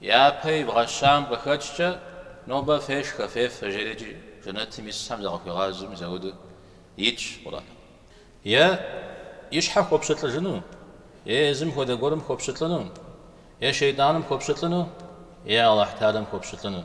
Япэ ибгъэщам къыхэкӏкӏэ, нобэ фешхэ, фефэ, жери иджы жэнэтым исхэм закъыхуигъазэм яуэдэу итщ Къурӏэным. Е и щхьэ хуопщылӏыжыну, е езым хуэдэ гуэрым хуопщылӏыну, е шейтӏаным хуопщылӏыну, е Алыхь Тэхьэлам хуопщылӏыну.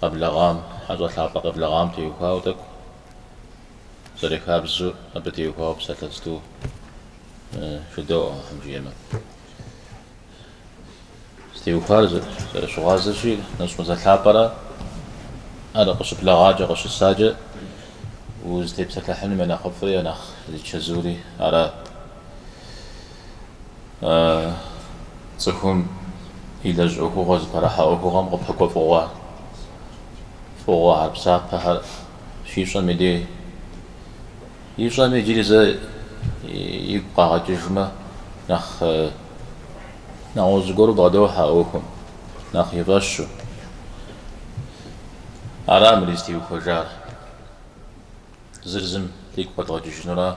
къэблэгъам, хьэщӏэ лъапӏэ къеблэгъам теухуауэ тӏэкӏу зэрыхабзэу, абы теухуауэ псалъэ зытӏу жыдоӏэ, Алыхьым жиӏэмэ. Зытеухуар зэрыщыгъуазэщи, нэщӏ мазэ лъапӏэра, ар къыщыблэгъакӏэ, къыщысакӏэ, узытепсэлъыхьыным я нэхъыфӏри, я нэхъ зичэзури ара. Цӏыхум илэжь ӏуэхугъуэ зыпэрыхьэ ӏуэхугъуэм къыпэкӏуэ фӏыгъуэ, фӏыгъуэхэр псапэхэр щищӏэм и дей, ищӏэм иджыри зэ игу къагъэкӏыжмэ, нэхъ нэгъуэщӏ зыгуэру бгъэдохьэ а ӏуэхум, нэхъ и фӏэщу. Ара мыр зытеухуэжар. Зыр зым игу къэдгъэкӏыжынура.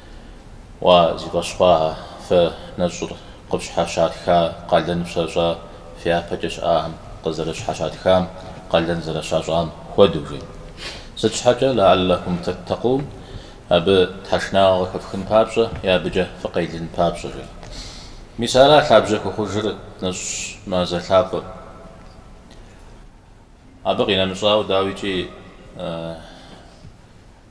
Уа, зи фӏэщ хъуахэ, фэ нэщӏыр къыфщхьэщатха къалэн фщащӏа фи япэкӏэ щыӏахэм къызэрыщхьэщатхам къалэн зэрыщащӏам хуэдэу, жи. Сыт щхьэкӏэ, лэаллэкум тэттэкъун, абы тхьэшынагъэ къыхэфхын папщӏэ е абыкӏэ фыкъелын папщӏэ, жи. Мис ара лъабжьэ хухъужыр нэщӏ мазэ лъапӏэм. Абы къинэмыщӏауэ, дауикӏи.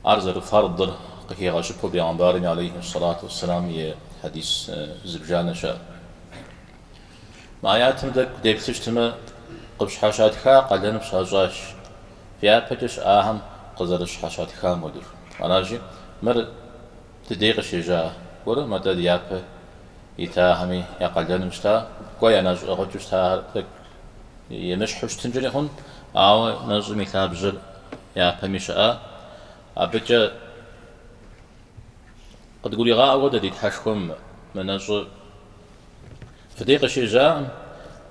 Ар зэрыфардыр къыхигъэщыпу Бегъымбарми алейхи ссалату уэсселам и хьэдис зыбжанэщ ар. Мы аятым тӏэкӏу деплъыщтмэ, къыфщхьэщатха къалэн фщащӏащ, фи япэкӏэ щыӏахэм къызэрыщхьэщатхам хуэдэу. Аращи, мыр дыдей къыщежьа гуэркъым, атӏэ япэ итахэми я къалэным щыта, кӏуэ я нэщӏ ӏыгъыкӏэу щытахэр тӏэкӏу емыщхьу щытынкӏэри хъун, ауэ нэщӏым и лъабжьэр япэми щыӏа. Абыкӏэ къыдгуригъаӏуэ дэ ди Тхьэшхуэм мы нэщӏыр. Фыдей къыщежьакъым,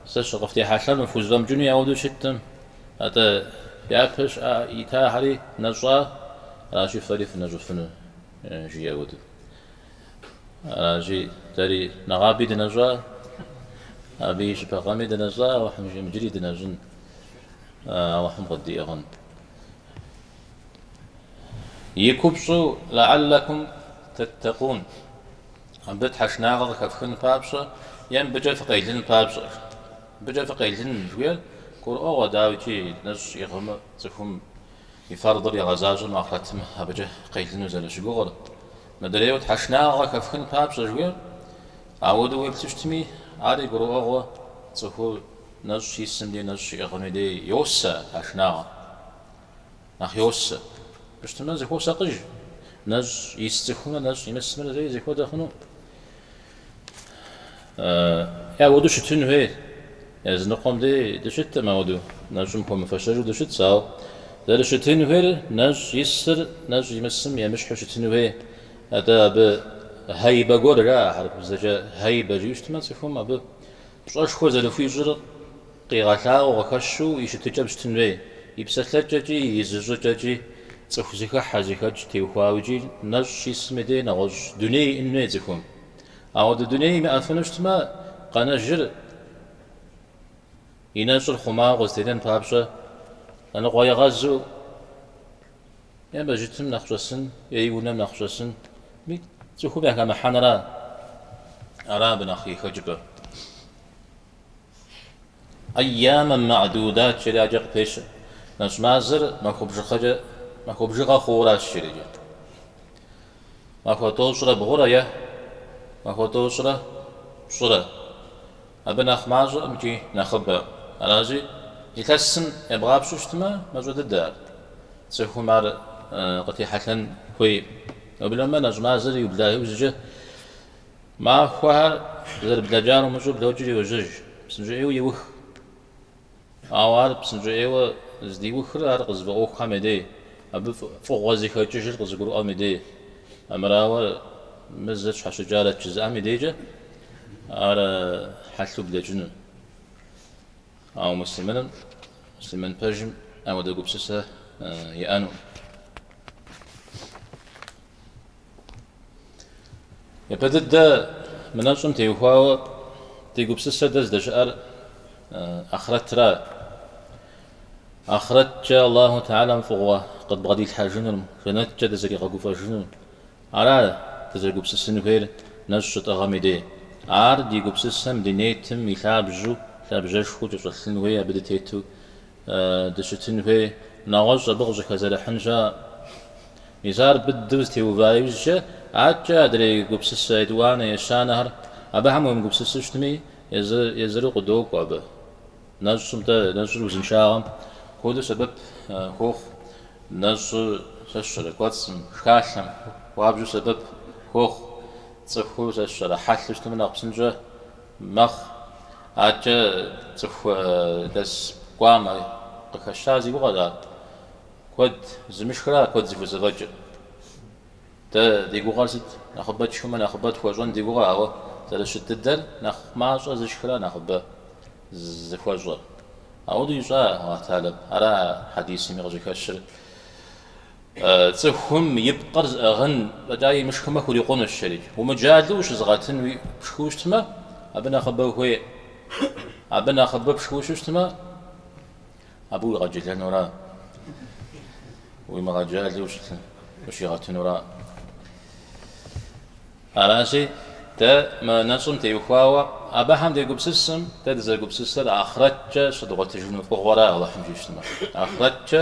сэ щыкъыфтехьэлъэм фхузэфӏэмыкӏыну яуэдэу щыттым, атӏэ япэ щыӏа, итахэри нэщӏа, аращи фэри фынэщӏыфыну, жиӏэу дэ. Аращи, дэри нэгъаби дынэщӏа, абы и щыпэгъэми дынэщӏа, Алыхьым жиӏэм иджыри дынэщӏын, Алыхьым къыддиӏыгъын. И купщӏу лэаллэкум тэттэкъун, абы тхьэшынагъэ къыхэфхын папщӏэ е абыкӏэ фыкъелын папщӏэ. Абыкӏэ фыкъелын жыхуиӏэр гурыӏуэгъуэ, дауикӏи, нэщӏ иӏыгъмэ цӏыхум И фэрдыр игъэзащӏэмэ ахърэтым абыкӏэ къелыну зэрыщыгугъыр. Мыдрейуэ тхьэшынагъэ хэфхын папщӏэ жыхуиӏэр. Ауэдэу уеплъу щытми, ари гурыӏуэгъуэ цӏыхур нэщӏ исым дей нэщӏ щиӏыгъым и дей йосэ тхьэшынагъэ. Нэхъ йосэ. Мыщытмэ зыхуосакъыж. Нэщӏ ис цӏыхумрэ нэщӏ имысымрэ зэи зыхуэдэ хъуну? Е ауэдэу щытын хуей. Языныкъуэм дей дыщыткъым ауэдэу, нэщӏым хуэмыфэщэжу дыщытщ, ауэ зэрыщытын хуейр нэщӏ исыр нэщӏ имысым емыщхьу щытын хуей. Атӏэ абы хьэибэ гуэр жаӏэ, хьэрыпыбзэкӏэ хьэибэ жиӏэу щытмэ, цӏыхум абы пщӏэшхуэ зэрыхуищӏыр Къигъэлъагъуэу къыхэщу и щытыкӏэм щытын хуей, и псэлъэкӏэкӏи, и зыщӏыкӏэкӏи, цӏыху зыхыхьэ, зыхэкӏ теухуауэкӏи нэщӏ щисым и дей нэгъуэщӏ дуней иӏэн хуей цӏыхум. Ауэдэ дуней имыӏэфыну щытмэ, къэнэжыр и нэщӏыр хъумауэ къызэтенэн папщӏэ, лъэныкъуэегъэзу е мэжджытым нэхъ щӏэсын, е и унэм нэхъ щӏэсын, ми цӏыхум яхэмыхьэнра, ара абы нэхъ и хэкӏыпӏэр. Айямэм ма'дудат жеӏэри адэкӏэ къыпещэ. Нэщӏ мазэр махуэ бжыгъэкӏэ, махуэ бжыгъэ хъууращ щеджэ. Махуэ тӏощӏрэ бгъурэ е махуэ тӏощӏрэ пщӏырэ. Абы нэхъ мащӏэкъым икӏи нэхъыбэ. Аращи, илъэсым ебгъапщэу щытмэ, мащӏэ дыдэ ар. Цӏыхум ар къытехьэлъэн хуейкъым. Уеблэмэ нэщӏ мазэр иубла иужькӏэ Махуэхэр зэрыблэкӏар умыщӏэу блокӏри йожьэж, псынщӏэӏейуэ иух. Ауэ ар псынщӏэӏейуэ здиухыр ар къызыфӏэӏуэхухэм я дей, абы фӏыгъуэ зыхэкӏыжыр къызыгурыӏуэм и дей. Армырауэ, мы зыр тщхьэщыкӏарэт жызыӏэм и дейкӏэ ар хьэлъэу блэкӏынут. Ауэ муслъымыным, муслъымын пэжым ауэдэ гупсысэ иӏэнукъым. Япэ дыдэ мы нэщӏым теухуауэ ди гупсысэ дэ здэщыӏэр ахърэтра. Ахърэткӏэ Аллаху Тахьэлам фӏыгъуэ къыдбгъэдилъхьэжынур, жэнэткӏэ дызэригъэгуфӏэжынур. Ара дызэрыгупсысын хуейр нэщӏ щытӏыгъым и дей. Ар ди гупсысэм ди нетым и лъабжьу, лъабжьэшхуэу кӏэщӏэлъын хуей абы дытету дыщытын хуей нэгъуэщӏ абы къыщӏыхэзэрыхьын щыӏэкъым. Мис ар быдэу зэтеува иужькӏэ, адэкӏэ адрей гупсысэ етӏуанэ ещанэхэр абыхэм уемыгупсысу щытми, езыр-езыру къыдокӏуэ абы. Нэщӏым-тӏэ, нэщӏыр узыншагъэм хуэдэу сэбэп хуохъу, нэщӏыр, сэ сщӏэрэ, кӏуэцӏым, шхалъэм хуабжьу сэбэп хуохъу, цӏыхур, сэ сщӏэрэ, хьэлъэу щытмэ нэхъ псынщӏэ. мэхъу. Аркӏэ цӏыху лэс кӏуамэ къыхэщар зи гугъэ ара? Куэд зымышхра куэд зыхузэфӏэкӏыр. Дэ ди гугъэр сыт? Нэхъыбэ тшхымэ нэхъыбэ тхуэщӏэн ди гугъэ, ауэ зэрыщыт дыдэр нэхъ мащӏэ зышхра нэхъыбэ зыхуэщӏэр. Ауэдэу ищӏа, Алыхьталэм? Ара хьэдисми къыщыхэщыр. Цӏыхум и пкъыр зыӏыгъын фӏэкӏа имышхымэ хурикъунущ жери. Умыджалу ущызыгъэтыну пшхыу щытмэ, абы нэхъыбэ хуей. Абы нэхъыбэ пшхыу щытмэ, абы уигъэджэлэнура, уимыгъэджалу ущигъэтынура. Аращи, дэ мы нэщӏым теухуауэ абыхэм дегупсысым, дэ дызэгупсысыр ахърэткӏэ щыдгъуэтыжыну фӏыгъуэра, Алыхьым жиӏэмэ. Ахърэткӏэ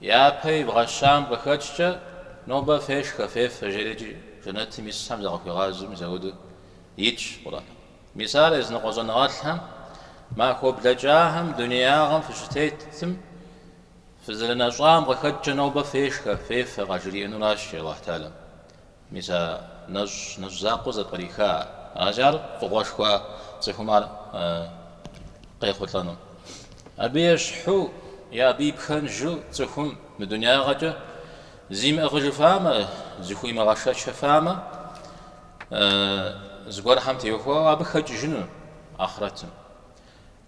Япэ ивгъэщам къыхэкӏкӏэ, нобэ фешхэ, фефэ, жери икӏи жэнэтым исхэм закъыхуигъазэми ауэдэу итщ Къурӏэным. Мис ар языныкъуэ щӏэныгъэлӏхэм, махуэ блэкӏахэм дунеягъэм фыщытетым, фызэрынэщӏам къыхэкӏкӏэ нобэ фешхэ, фефэ къажриӏэнуращи, Алыхьталэм. Мис а нэщӏ нэщӏ закъуэ зэпкъриха ар? Аращи, ар фӏыгъуэшхуа цӏыхум ар къехъулӏэну. Абы ещхьу е абы ипхэнжу цӏыхум мы дунягъэкӏэ зимыӏыгъыжыфамэ, зыхуимыгъэшэчыфамэ, зыгуэрхэм теухуауэ абы хэкӏыжыну ахърэтым.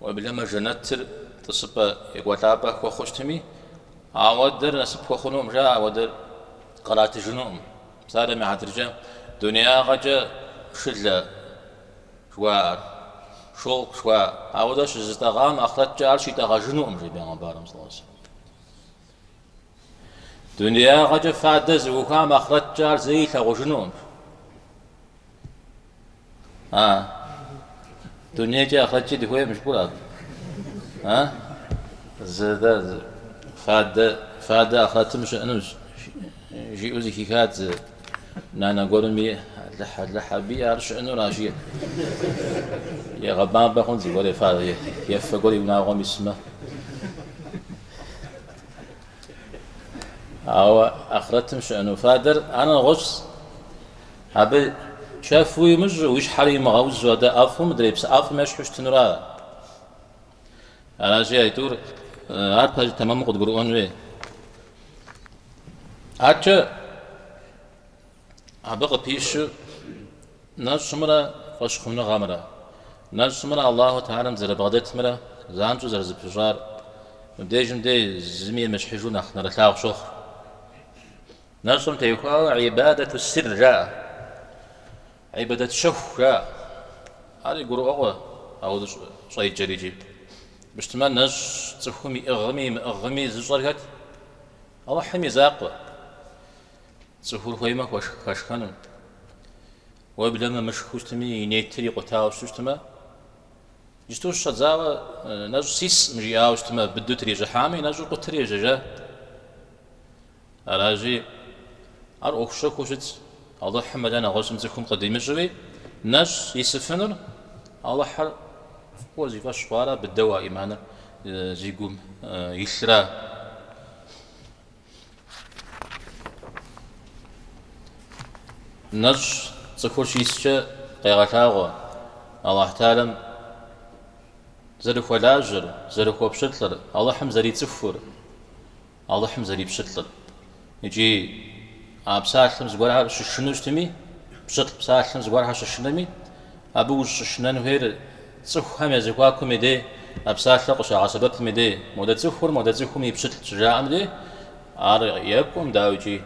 Уеблэмэ жэнэтыр тӏысыпӏэ екӏуэлӏапӏэ хуэхъу щытми, ауэдэр насып хуэхъунукъым, жаӏэ, ауэдэр къратыжынукъым. Псалъэм и хьэтыркӏэ дуниягъэкӏэ шылэ жыхуаӏэр, шёлк жыхуаӏэр, ауэдэ щызытӏэгъам ахърэткӏэ ар щитӏэгъэжынукъым, жи Бегъымбарым, сӏэуэ-сэ. Дунеягъэкӏэ фадэ зыӏухуам ахърэткӏэ ар зэи илъагъужынукъым. А? Дунейкӏи ахърэткӏи дыхуейкъым жыпӏур абы. А? Зэдэ фадэ фадэ ахърэтым щыӏэну жиӏэу зыхихат зы нанэ гуэрым, я Алыхь Алыхь аби ар щыӏэнура, жи. Егъэбампӏэ хъун зыгуэр ефа ефэ гуэр и унагъуэм исмэ. Ауэ ахърэтым щыӏэну фадэр ар нэгъуэщӏщ. Абы чэф уимыщӏ, уи щхьэр имыгъэузу фадэ ӏэфӏым, мыдрей псы ӏэфӏым ещхьу щытынура? Аращи, Айтур, ар пэжу тэмэму къыдгурыӏуэн хуей. Аркӏэ Абы къыпищу нэщӏымрэ фӏэщхъуныгъэмрэ, нэщӏымрэ Аллаху Теалэм зэрыбгъэдэтымрэ занщӏэу зэрызэпыщӏар мыбдежым дей зыми емыщхьыжу нэхъ нэрылъагъу щохъу. Нэщӏым теухуауэ ибадэту сир жаӏэ, ибадэт щэху жаӏэ. Ари гурыӏуэгъуэ, ауэ сыт щхьэкӏэ жыпӏэу щытмэ, нэщӏ цӏыхум иӏыгъми имыӏыгъми зыщӏэр хэт? Алыхьым и закъуэ. Цӏыхур хуеймэ хуэшх хэшхэну. Уеблэмэ мышхэу щытми, и нетыр икъутауэ щыту щытмэ, иджыпсту щыщӏэдзауэ нэщӏ сисӏым жиӏауэ щытмэ, быдэу трищӏыхьамэ, и нэщӏыр къутэри ежьэжа. Аращи, ар ӏуэху щэхуу щытщ. Алыхьым мэлэ нэгъуэщӏым цӏыхум къыдимыщӏэу, нэщӏ исыфынур Алыхьыр фӏыуэ зи фӏэщ хъуара, быдэу а ӏиманыр зи гум илъра. Нэщӏ цӏыхур щискӏэ къегъэлъагъуэ Алыхь Теалэм зэрыхуэлажьэр, зэрыхуэпщылӏыр, Алыхьым зэрицӏыхур, Алыхьым зэрипщылӏыр. Икӏи а псалъэм зыгуэрхэр щышынэу щытми, пщылӏ псалъэм зыгуэрхэр щышынэми, абы ущӏыщышынэн хуейр Цӏыхухэм я зэхуакум и дей, а псалъэу къыщагъэсэбэпым и дей, модэ цӏыхур модэ цӏыхум и пщылӏщ щыжаӏэм дей, ар екӏуӏым, дауикӏи.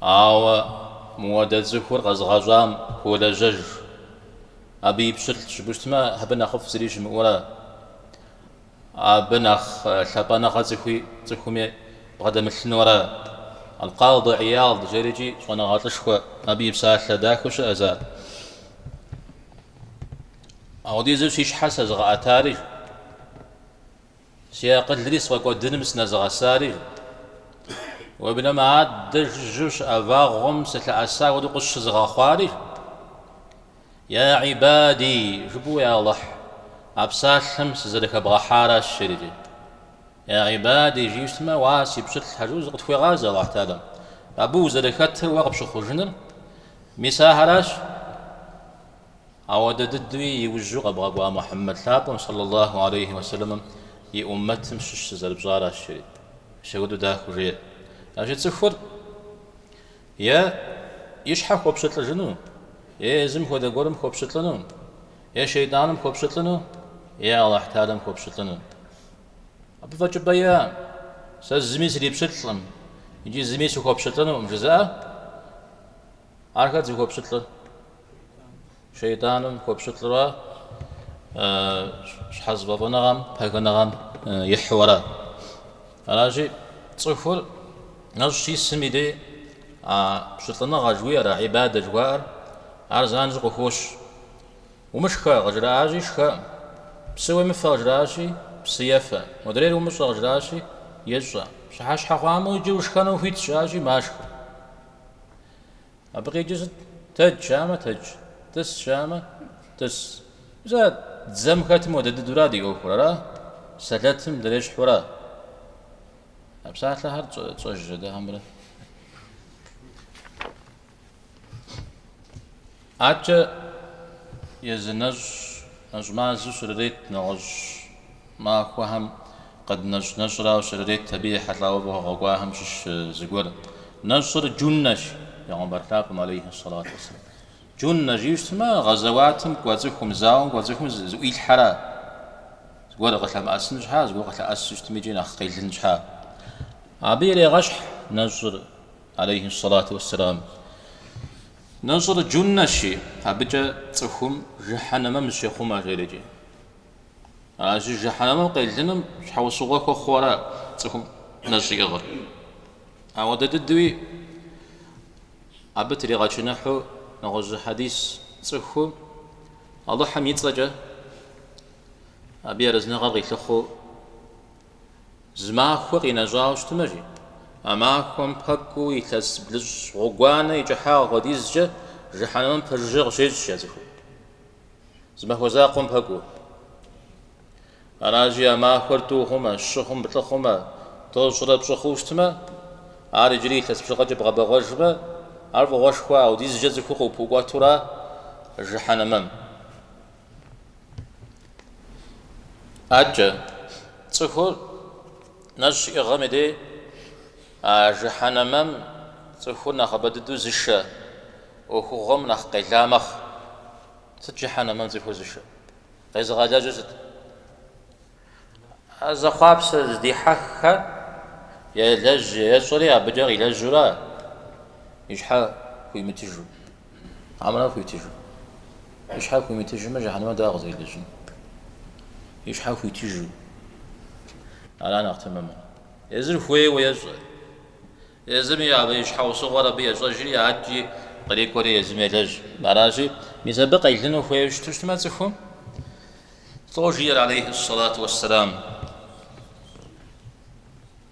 Ауэ модэ цӏыхур къэзыгъэщӏам хуолэжьэж, абы и пщылӏщ жыпӏэу щытмэ, абы нэхъыфӏ зыри щымыӏэура. Абы нэхъ лъапӏэныгъэ цӏыхуи цӏыхуми бгъэдэмылъынура. Алкъады Ияд жери икӏи щӏэныгъэлӏышхуэ абы и псалъэ дахэу щыӏэщ ар. Апхуэдизу си щхьэр сэзыгъэӏэтари, си акъылри сфӏэкӏуэдыным сынэзыгъэсари, уеблэмэ адэ жыжьэу щыӏэ вагъуэм сылъэӏэса хуэдэу къысщызыгъэхъуари, Я гӏибади, жыпӏэу я Алыхь, а псалъэм сызэрыхэбгъэхьаращ жери. Я гӏибади, жиӏэу щытмэ, уа си пщылӏхэ жиӏэу зыкъытхуегъазэ Алыхь Теалэм, абы узэрыхэтыр уэ къыпщыхъужыныр, мис ахэращ, апхуэдэ дыдэуи иужьу къэбгъэкӏуа Мухьэммэд лъапӏэм сэллэ Аллаху гьалейхи уэсэлэмым и уммэтым щыщ сызэрыпщӏаращ жери. Мис апхуэдэу дахэу жеӏэ. Ащи цӏыхур Е и щхьэ хуопщылӏыжыну, е езым хуэдэ гуэрым хуопщылӏыну, е шейтӏаным хуопщылӏыну, е Алыхь Теалэм хуопщылӏыну. Абы фӏэкӏыпӏэ иӏэ? Сэ зыми срипщылӏкъым икӏи зыми сыхуопщылӏынукъым жызыӏэхэр зыхуэпщылӏыр. Шейтӏаным хуэпщылӏурэ щхьэзыфӏэфӏыныгъэм, пэхыныгъэм ихьу ара. Аращи, цӏыхур нэщӏ щисым и дей а пщылӏыныгъэ жыхуиӏэр, а ибадэ жыхуаӏэр, ар занщӏэу къыхощ. Умышхэ, къыжраӏащи, шхэӏым, псы уемыфэ, къыжраӏащи, псы ефэӏым, модрейр умыщӏэ, къыжраӏащи, ещӏэ, пщыхьэщхьэ хъуамэ, иджы ушхэну ухуитщ, жаӏащи, машхэ. Абы къикӏи сыт? Тэдж жаӏамэ, тэдж, тӏыс жаӏамэ, тӏыс. Зэ дзэм хэтым хуэдэ дыдэура ди ӏуэхур, ара? Сэлэтым дрещхьура? А псалъэхэр тщӏэж жьэдэхэмрэ? Адэкӏэ езы нэщӏ, нэщӏ мазэу щрырет нэгъуэщӏ. Махуэхэм къыднэщӏ нэщӏрауэ щрырет абы ехьэлӏауэ фӏыгъуэ къэкӏуахэм щыщ зыгуэр. Нэщӏыр Джуннэщ, Бегъымбар лъапӏэм алейхьи ссалату уэсселам. Джуннэ жиӏэу щытмэ, гъэзэуатым кӏуэ цӏыхум, зауэм кӏуэ цӏыхум зыӏуилъхьэра, зыгуэр къылъэмыӏэсын щхьа, зыгуэр къылъэӏэсу щытми икӏи нэхъ къелын щхьа. Абы ирегъэщхь нэщӏыр, алейхьи ссалату уэсселам. Нэщӏыр Джуннэщи, абыкӏэ цӏыхум жыхьэнэмэм зыщехъумэ, жери икӏи. Аращи, жыхьэнэмэм къелыным щхьэусыгъуэ хуэхъуу ара цӏыхум нэщӏ иӏыгъыр? Ауэдэ дыдэуи абы тригъэчыныхьу нэгъуэщӏ хьэдис цӏыху Алыхьым и цӏэкӏэ абы и арэзыныгъэр къилъыхъуэу зы махуэ къинэщӏауэ щытмэ жи, а махуэм пэкӏуу илъэс блыщӏ гъуэгуанэ и кӏыхьагъ хуэдизкӏэ жыхьэнэмэм пэжыжьэ къыщещӏ а цӏыхум. Зы махуэ закъуэм пэкӏуу. Аращи, а махуэр тӏу хъумэ, щы хъумэ, плӏы хъумэ, тӏощӏрэ пщӏы хъуу щытмэ, ар иджыри илъэс бжыгъэкӏэ бгъэбэгъуэжмэ, ар фӏыгъуэшхуэ аудизкӏэ цӏыхур къыпыӏукӏуэту ара жыхьэнэмэм. Адэкӏэ цӏыхур Нэщӏ щиӏыгъэм и дей а жыхьэнэмэм цӏыхур нэхъыбэ дыдэу зышэ ӏуэхугъуэм нэхъ къела мэхъу. Сыт жыхьэнэмэм цӏыхур зышэ? Къезыгъэлэжьыр сыт? А зэхъуапсэ зыдихьэххэр елэжь ещӏэри абыкӏэ къилэжьурэ и щхьэ хуимытыжу. Армыра, хуитыжу. И щхьэр хуимытыжмэ, жыхьэнэмэ дауэ къызэрилэжьын? И щхьэр хуитыжу. Ара нэхъ тэмэмыр. Езыр хуейуэ ещӏэ. Езыми абы и щхьэусыгъуэр абы ещӏэжри, адэкӏи кърикӏуэри езым елэжь. Аращи, мис абы къелыну хуейуэ щыту щытмэ цӏыхум, лӏо жиӏэр алейхьи сэлату уэссэлам.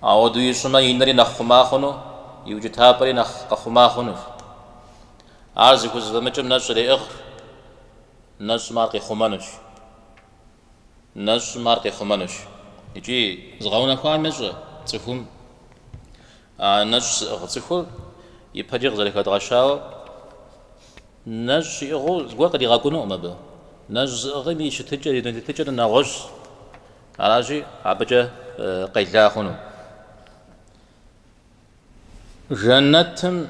Ауэдэу ищӏымэ, и нэри нэхъ хъума хъуну, и укӏытапӏэри нэхъ къэхъума хъунущ. Ар зыхузэфӏэмыкӏым нэщӏ иреӏыгъ, нэщӏым ар къихъумэнущ. Нэщӏым ар къихъумэнущ. Икӏи згъэунэхуам ещӏэ цӏыхум а нэщӏ зыӏыгъ цӏыхур ипэкӏэ къызэрыхэдгъэщауэ нэщӏ иӏыгъыу зыгуэр къыригъэкӏунукъым абы. Нэщӏ зыӏыгъым и щытыкӏэр, и дуней тетыкӏэр нэгъуэщӏщ. Аращи, абыкӏэ къела хъуну жэнэтым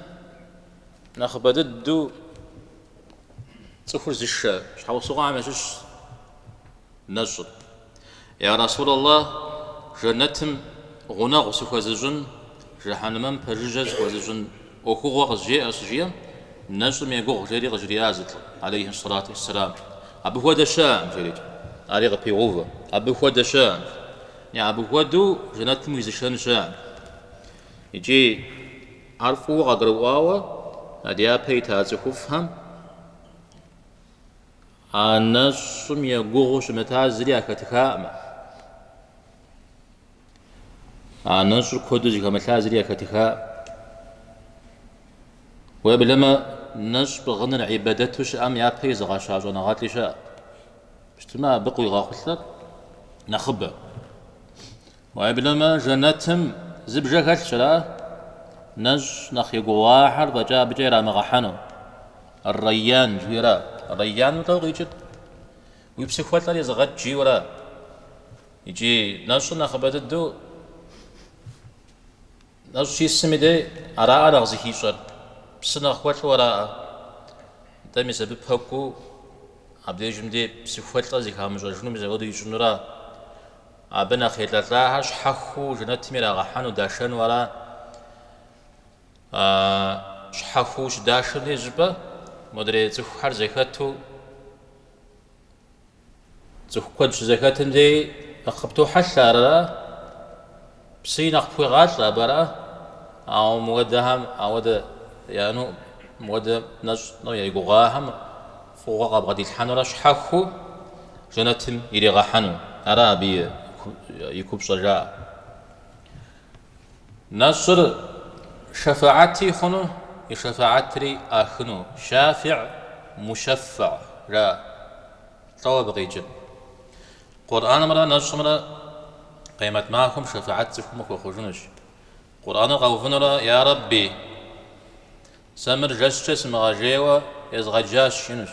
нэхъыбэ дыдэу цӏыхур зышэ щхьэусыгъуэхэм ящыщ нэщӏыр. Я Расулаллэ, жэнэтым гъунэгъу сыхуэзыщӏын, жыхьэнмэм пэжыжьэ сыхуэзыщӏын? ӏуэхугъуэ къызжеӏэ щыжиӏэм, нэщӏым егугъу жери къыжриӏащ зы лӏы, алейхьи сэлату уэсселам, Абы хуэдэ щыӏэкъым, жери. Ари къыпегъэувэ, Абы хуэдэ щыӏэкъым, е абы хуэдэу жэнэтым уизышэн щыӏэкъым. Икӏи ар фӏыуэ къагурыӏуауэ а дяпэ ита цӏыхуфӏхэм а нэщӏым егугъуу щымыта зыри яхэтыхакъымэ. А нэщӏыр куэду зыхэмылъа зыри яхэтыха. Уеблэмэ нэщӏ пӏыгъыныр ибэдэту щыӏэм япэ изыгъэща щӏэныгъэлӏи щыӏэ. Пщтымэ абы къуигъэхъулӏэр нэхъыбэ. Уеблэмэ жэнэтым зы бжэ хэлъщ, ара? Нэщӏ нэхъ егугъуахэр фӏэкӏа абыкӏэ ирамыгъэхьэну. Рейян жиӏэра? Рейян утӏэу къикӏыр? Уи псыхуэлӏэр изыгъэкӏ жиӏэра? Икӏи нэщӏыр нэхъыбэ дыдэу нэщӏ щисым и дей араӏэ нэхъ зыхищӏэр, псы нэхъ хуэлӏу араӏэ. Нтӏэ, мис абы пэкӏуу абдежым дей псыхуэлӏэр зыхамыщӏэжыну мис ауэдэу ищӏынура? Абы нэхъ елӏэлӏахэр щхьэхыу жэнэтым ирагъэхьэну, дашэну ара? Щхьэхыу щыдашэм деж щӏыпӏэ модрей цӏыхухэр зэхэту, Цӏыху куэд щызэхэтым дей нэхъ къыптохьэлъэ арэрэ? Псыи нэхъ пхуегъалӏэ абы, ара? Ауэ мыуэдэхэм ауэдэ яну, мыуэдэ нэщӏ-тӏэу егугъуахэм фӏыгъуэ къабгъэдилъхьэнурэ щхьэхыу жэнэтым иригъэхьэну ара абы и купщӏэ жаӏэ? Нэщӏыр шэфэӏэти хъуну, и шэфэӏэтри къыӏахыну, шафиӏ, мушэффэ, ара, лӏэу абы къикӏыр. Къурӏэнымрэ нэщӏымрэ къемэт махуэм шэфэӏэт цӏыхум къыхуэхъужынущ. Къурӏэныр къэувынурэ, Я Рэбби! Сэ мыр жэщкӏэ сымыгъэжейуэ езгъэджащ, жынущ.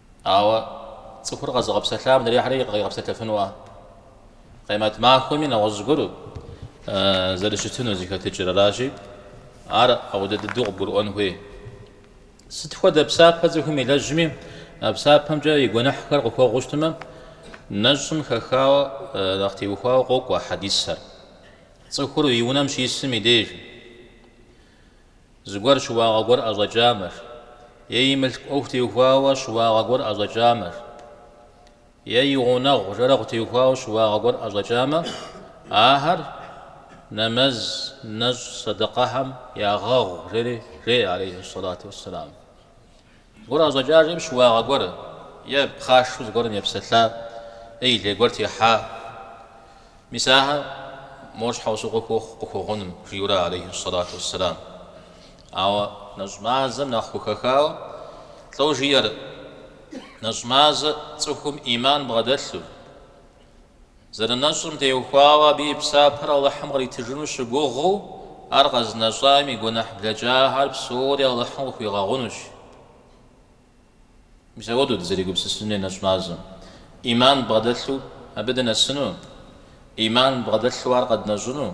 Ауэ цӏыхур къэзыгъэпсэлъам адрейхэри къигъэпсэлъэфынуа? Къемэт махуэми нэгъуэщӏ гуэр зэрыщытыну зыхэтыкӏыр аращи, ар ауэдэ дыдэу къыбгурыӏуэн хуей. Сыт хуэдэ псапэ цӏыхум илэжьми, а псапэмкӏэ и гуэныхьхэр къыхуэгъуу щытмэ, нэщӏым хэхауэ нэхъ теухуауэ къокӏуэ а хьэдисэр. Цӏыхур и унэм щисым и деж. Зыгуэр щыуагъэ гуэр ӏэщӏэкӏамэр. Е и мылъку ӏуэху теухуауэ щыуагъэ гуэр ӏэщӏэкӏамэр. Е и гъунэгъу жэрэгъу теухуауэ щыуагъэ гуэр ӏэщӏэкӏамэ, ахэр нэмэз, нэщӏ, сэдэкъэхэм ягъэгъу, жери жеӏэ, алейхьи сэлату уэсселам. Гуэр къыӏэщӏэкӏахэм щыуагъэ гуэр е пхъашэу зыгуэрым епсэлъа е и лей гуэр техьа, мис ахэр мо щхьэусыгъуэ хуохъу къыхуэгъуным, жиӏэурэ алейхьи сэлату уэсселам. Ауэ нэщӏ мазэм нэхъ хухэхауэ лӏо жиӏэр, нэщӏ мазэ цӏыхум ӏиман бгъэдэлъу, Зэрынэщӏым теухуауэ абы и псапэр Алыхьым къритыжыну щыгугъыу, ар къэзынэщӏам и гуэныхь блэкӏахэр псори Алыхьым къыхуигъэгъунущ. Мис ауэдэу дызэригупсысын хуей нэщӏ мазэм ӏиман бгъэдэлъу абы дынэсыну, ӏиман бгъэдэлъу ар къэднэщӏыну,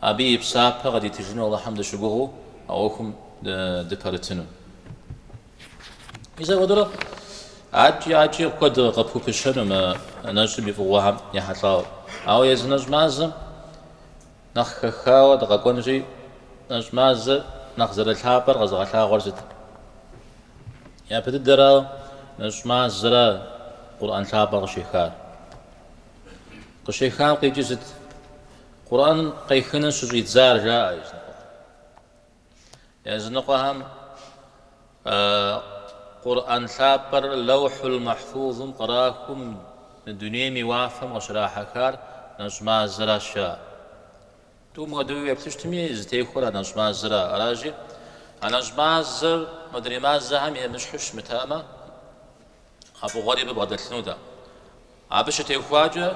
абы и псапэ къыдитыжыну Алыхьым дыщыгугъыу а ӏуэхум дыпэрытыну. Мис апхуэдэурэ адэкӏи адэкӏи куэду къыпхупыщэну мы нэщӏым и фӏыгъуэхэм ехьэлӏауэ. Ауэ езы нэщӏ мазэм нэхъ хэхауэ дыкъэкӏуэнри, нэщӏ мазэр нэхъ зэрылъапӏэр къэзыгъэлъагъуэр сыт? Япэ дыдэрауэ, нэщӏ мазэра Къурӏэн лъапӏэр къыщехар. Къыщехам къикӏыр сыт? Къурӏэн къехыну щыщӏидзар, жаӏэ языныкъуэм. Языныкъуэхэм Къурӏэн лъапӏэр Лэухьул Махьфузым кърахыу мы дунейм и уафэм къыщрахьэхар нэщӏ мазэращ жаӏэр. Тӏум хуэдэуи уеплъыщтми, зытехуэр а нэщӏ мазэра? Аращи, а нэщӏ мазэр мыдрей мазэхэм емыщхьу щымытамэ, а фӏыгъуэри абы бгъэдэлъынут. Абы щытехуакӏэ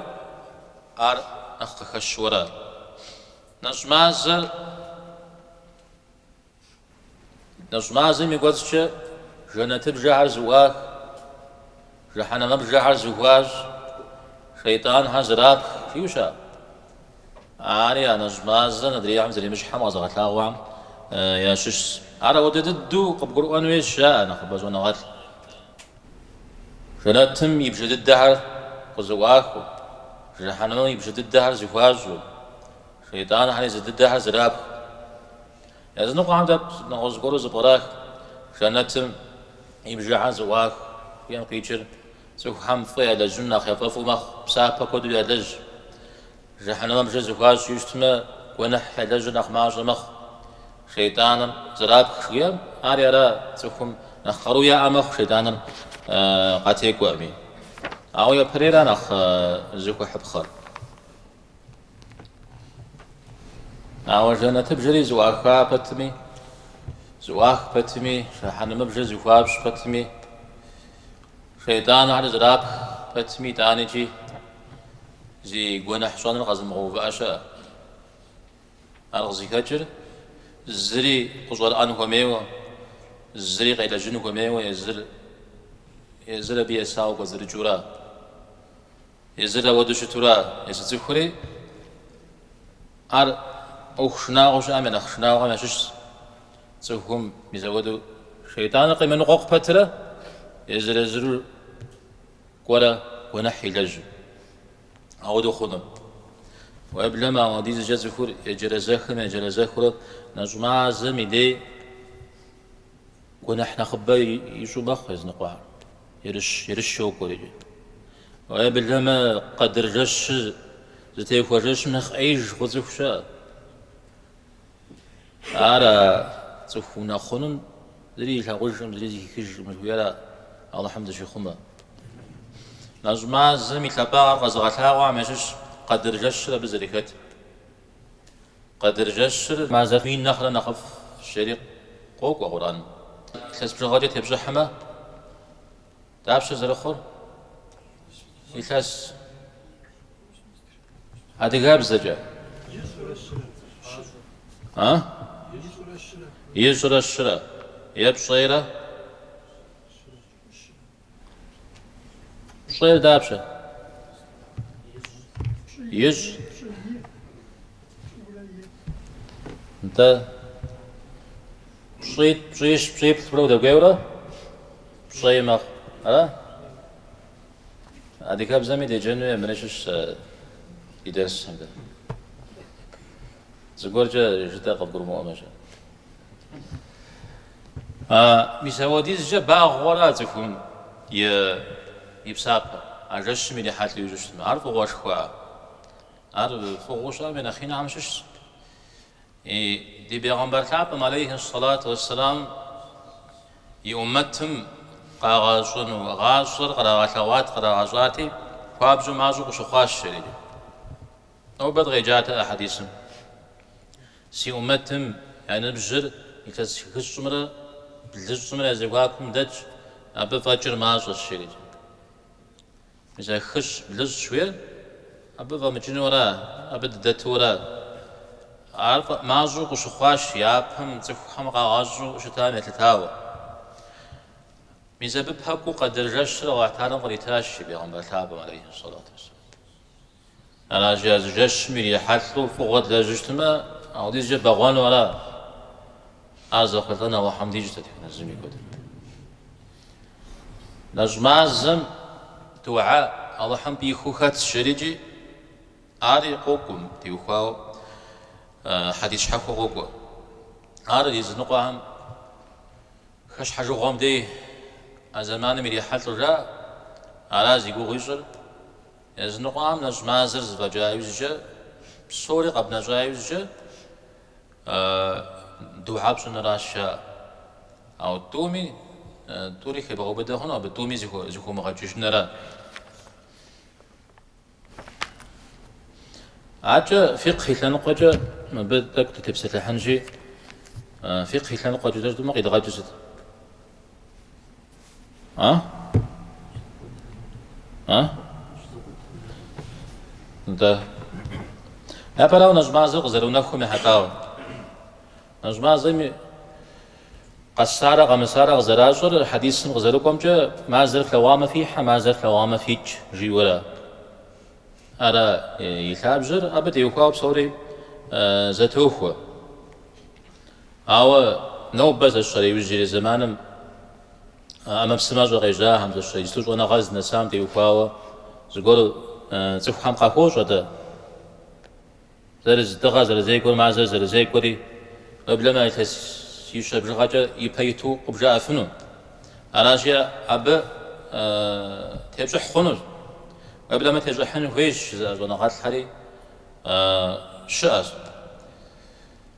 ар нэхъ къыхэщуэрэ? Нэщӏ мазэр Нэщӏ мазэм и кӏуэцӏкӏэ жэнэтыбжэхэр зэӏуах, жыхьэнэмэбжэхэр зэхуащӏ, шейтӏанхэр зэрапх, жиӏэу щыӏэ. Ари а нэщӏ мазэр адрейхэм зэремыщхьым къэзыгъэлъагъуэхэм ящыщщ. Ар апхуэдэ дыдэу къыбгурыӏуэн хуейщ, жаӏэ нэхъыбэ щӏэныгъэлӏ. Жэнэтым и бжэ дыдэхэр къызэӏуахыу, Жэхьэнэмым и бжэ дыдэхэр зыхуащӏу, Шейтӏанхэр езы дыдэхэр зэрапху. Языныкъуэхэм дэ нэгъуэщӏ зыгуэру зыпкърах, Жэнэтым и бжэхэр зыӏуах жыхуиӏэм къикӏыр цӏыхухэм фӏы ялэжьыну нэхъ яфӏэфӏу мэхъу, псапэ куэду ялэжь. Жэхьэнэмэбжэр зыхуащӏу щытмэ, гуэныхь ялэжьыр нэхъ мащӏэ мэхъу. Шейтӏаныр зэрапх жиӏэм, ари ара цӏыхум нэхъ къару яӏэ мэхъу шейтӏаныр къатекӏуэми. Ауэ япэрейра нэхъ зыхуэхьыпхъэр? Ауэ жэнэтыбжэри зыӏуаха пэтми, зыӏуах пэтми, жэхьэнэмыбжэр зыхуащӏ пэтми, Шейтӏанхэр зэрапх пэтми, итӏанэкӏи зи гуэныхь щӏэныр къэзымыгъэувыӏэ щыӏэ. Ар къызыхэкӏыр зыри къыщӏэрыӏэн хуэмейуэ, зыри къелэжьын хуэмейуэ, езыр, езыр абы есауэ кӏуэцӏрыкӏыура, езыр ауэду щытура, езы цӏыхури, Ар ӏуэху шынагъуэу щыӏэм я нэхъ шынагъуэхэм ящыщщ. Цӏыхум зэи хуэду шейтӏаныр къемыныкъуэкъу пэтрэ езыр-езыру кӏуэрэ гуэныхь илэжьу. Ауэдэу хъуну? Уеблэмэ, ауэдизкӏэ цӏыхур еджэрэзэхым-еджэрэзэхурэ нэщӏ мазэм и дей Гуэныхь нэхъыбэ ищӏу мэхъу языныкъуэр, ерыщ, ерыщ йокӏуэр икӏи. Уеблэмэ къэдыр жэщыр зытехуэ жэщым нэхъ ӏеиж хъу цӏыху щыӏэ. Ара цӏыху унэхъунум зыри илъагъужкъым, зыри зыхихыжкъым жыхуиӏэра Алыхьым дыщихъумэ. Нэщӏ мазэм и лъапӏагъэр къэзыгъэлъагъуэхэм ящыщ къэдыр жэщыр абы зэрыхэтыр. Къэдыр жэщыр мазэ мин нэхърэ нэхъыфӏщ жери къокӏуэ Къурӏэн. Илъэс бжыгъэкӏэ тепщӏыхьмэ, дапщэ зэрыхъур? Илъэс адыгэбзэкӏэ. А? Ищӏрэ щырэ. Е пщӏейрэ. Пщӏейр дапщэ? Ищӏ. Нтӏэ. Пщӏит, пщӏищ, пщӏиплӏурэ удэкӏуейурэ пщӏей мэхъу. Ара? Адыгэбзэми деджэну е мыри щыщ сэ и дерсым дэ. Зыгуэркӏэ жытӏэ къыбгурымыӏуэмэщ. А мис апхуэдизкӏэ багъуэра а цӏыхум и псапэр? А жэщым ирихьэлӏэу ищӏыщтмэ, ар фӏыгъуэшхуа? Ар фӏыгъуэу щыӏэм и нэхъ инхэм щыщщ. И ди Бегъымбар лъапӏэм, алейхи ссалату уэсселам, и уммэтым къагъэщӏэну гъащӏэр кърагъэлъэгъуат, кърагъэщӏати, хуабжьу мащӏэу къыщыхъуащ жери. Нобэ дыкъеджатэ а хьэдисым. Си Умэтым я ныбжьыр илъэс хыщӏымрэ блыщӏымрэ я зэхуакум дэтщ, абы фӏэкӏыр мащӏэщ, жерикӏэ. Мис а хыщӏ, блыщӏ жыхуиӏэр абы фӏэмыкӏынура, абы дыдэтура? Ар мащӏэу къыщыхъуащ япэм цӏыхухэм къагъэщӏу щытам елъытауэ. Мис абы пэкӏуу къэдыр жэщыр Алыхьталэм къритащ и Бегъымбар лъапӏэм, алейхьи сэлату уэсэлам. Аращи, а зы жэщым ирихьэлӏэу фӏыгъуэ длэжьыщтмэ, апхуэдизкӏэ бэгъуэну ара? Ар зэхъулӏэн Алыхьым дищӏ дэтхэнэ зыми куэдым. Нэщӏ мазэм духьэ Алыхьым пӏихыу хэтщ жерикӏи, ари къокӏуэ, абы теухуауэ хьэдис щхьэхуэ къокӏуэ. Ар языныкъуэхэм хэщхьэжыгъуэм дей а зэманым ирихьэлӏэу жаӏэ, ара зи гугъу ищӏыр, Языныкъуэхэм нэщӏ мазэр зэфӏэкӏа иужькӏэ, псори къэбнэщӏа иужькӏэ духьэ пщӏыныращ жаӏэр. Ауэ тӏуми, тӏури хебгъэубыдэ хъуну, абы тӏуми зыхыумыгъэкӏыжынра? Аркӏэ фикъ и лъэныкъуэкӏэ мыбы тӏэкӏу дытепсэлъыхьынщи, фикъ и лъэныкъуэкӏэ дэ жытӏэмэ къидгъэкӏыр сыт? А? А? Да. Япэрауэ нэщӏ мазэу къызэрыунэхум ехьэлӏауэ. Нэщӏ мазэми къэсарэ къэмысарэ къызэращӏыр хьэдисым къызэрыкӏуэмкӏэ мазэр флъэгъуамэ фихьэ, мазэр флъэгъуамэ фикӏ жиӏэурэ. Ара и лъабжьэр абы теухуауэ псори зэтохуэ. Ауэ нобэ зэщэрэ иужьрей зэманым а ӏэмэпсымэщӏэ къежьахэм, зэщэрэ ислу щӏэныгъэр зынэсам теухуауэ зыгуэр цӏыхухэм къахуощӏэ-тӏэ, зэрыз дыгъэ зэрызекӏуэр, мазэр зэрызекӏуэри, уеблэмэ илъэсищэ бжыгъэкӏэ ипэ иту къыбжаӏэфыну. Аращи, абы тепщӏыхь хъунущ. Уеблэмэ тещӏыхьын хуейщ жызыӏэ щӏэныгъэлӏхэри щыӏэщ.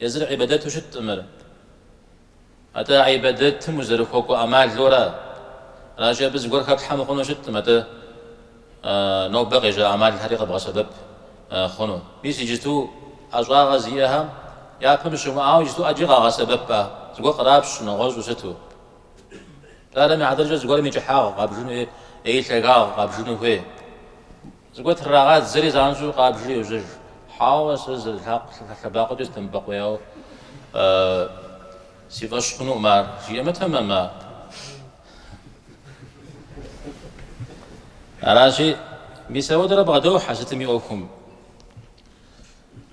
Езыр гӏибадэту щыткъым ар. Атӏэ гӏибадэтым узэрыхуэкӏуэ ӏэмалу ара. Аращи, абы зыгуэр хэплъхьэ мыхъуну щыткъым, атӏэ нобэ къежьа ӏэмалхэри къэбгъэсэбэп хъуну. Мис иджыту ӏэщӏагъэ зиӏэхэм япэм щымыӏауэ иджыту ӏэджи къагъэсэбэп, зыгуэр кърапщ нэгъуэщӏу сыту. Псалъэм и хьэтыркӏэ, зыгуэрым и кӏыхьагъ къабжыну е и лъагагъ къабжыну хуей. Зыгуэр трагъадзэри занщӏэу къабжри йожьэж. Хьэуэ, сэ зы лъакъу лъэбакъуэкӏэ сыдэмыбэкъуеяуэ си фӏэщ хъунукъым ар, жиӏэмэ, тэмэм? Аращи, мис ауэдэрэ бгъэдохьэ сытым и ӏуэхум.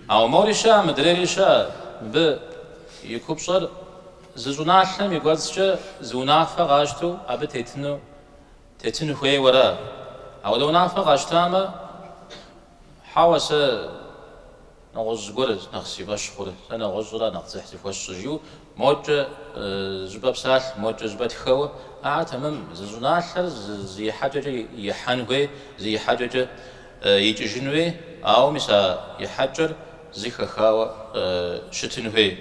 Ауэ мори щыӏэ, мыдрейри щыӏэ, мыбы и купщӏэр зы щӏыналъэм и кӏуэцӏкӏэ зы унафэ къащтэу абы тетыну Тетын хуейуэ ара. Апхуэдэ унафэ къащтамэ, хьэуэ, сэ нэгъуэщӏ зыгуэр нэхъ си фӏэщ хъур, сэ нэгъуэщӏра нэхъ дзыхь зыхуэсщӏыр, жиӏэу мокӏэ щыпэпсалъэ, мокӏэ щыпэтхэуэ. Ар тэмэм, зы щӏыналъэр зы ихьэкӏэкӏэ ихьэн хуей, зы ихьэкӏэкӏэ икӏыжын хуей, ауэ мис а ихьэкӏэр зы хэхауэ щытын хуей.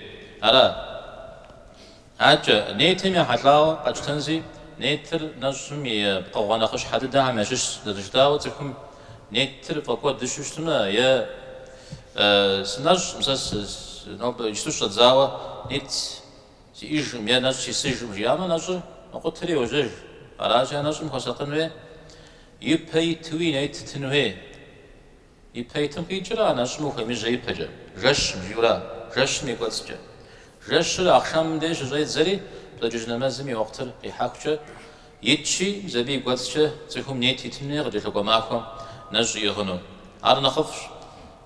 Ара? Адэкӏэ, нетым ехьэлӏауэ къэтщтэнщи, нетыр нэщӏым и пкъыгъуэ нэхъыщхьэ дыдэхэм ящыщщ, зэрыжытӏауэ цӏыхум нетыр фӏэкӏуэдыжу щытмэ, е сынэщӏкъым, сэ нобэ иджыпсту сщӏэдзауэ нет сиӏижкъым, е нэщӏ сисыжкъым жиӏамэ, нэщӏыр мэкъутэри йожьэж. Аращи, а нэщӏым хуэсакъын хуей, ипэ итуи нет итын хуей. Ипэ итым къикӏра а нэщӏым ухуемыжьэ ипэкӏэ, жэщым, жиӏу ара, жэщым и кӏуэцӏкӏэ. Жэщыр ахъшэмым деж щыщӏедзэри, пщэдджыжь нэмэзым и уэхътыр къихьэхукӏэ итщи, мис абы и кӏуэцӏкӏэ цӏыхум нет итын хуей къыкӏэлъыкӏуэ махуэм нэщӏ иӏыгъыну. Ар нэхъыфӏщ.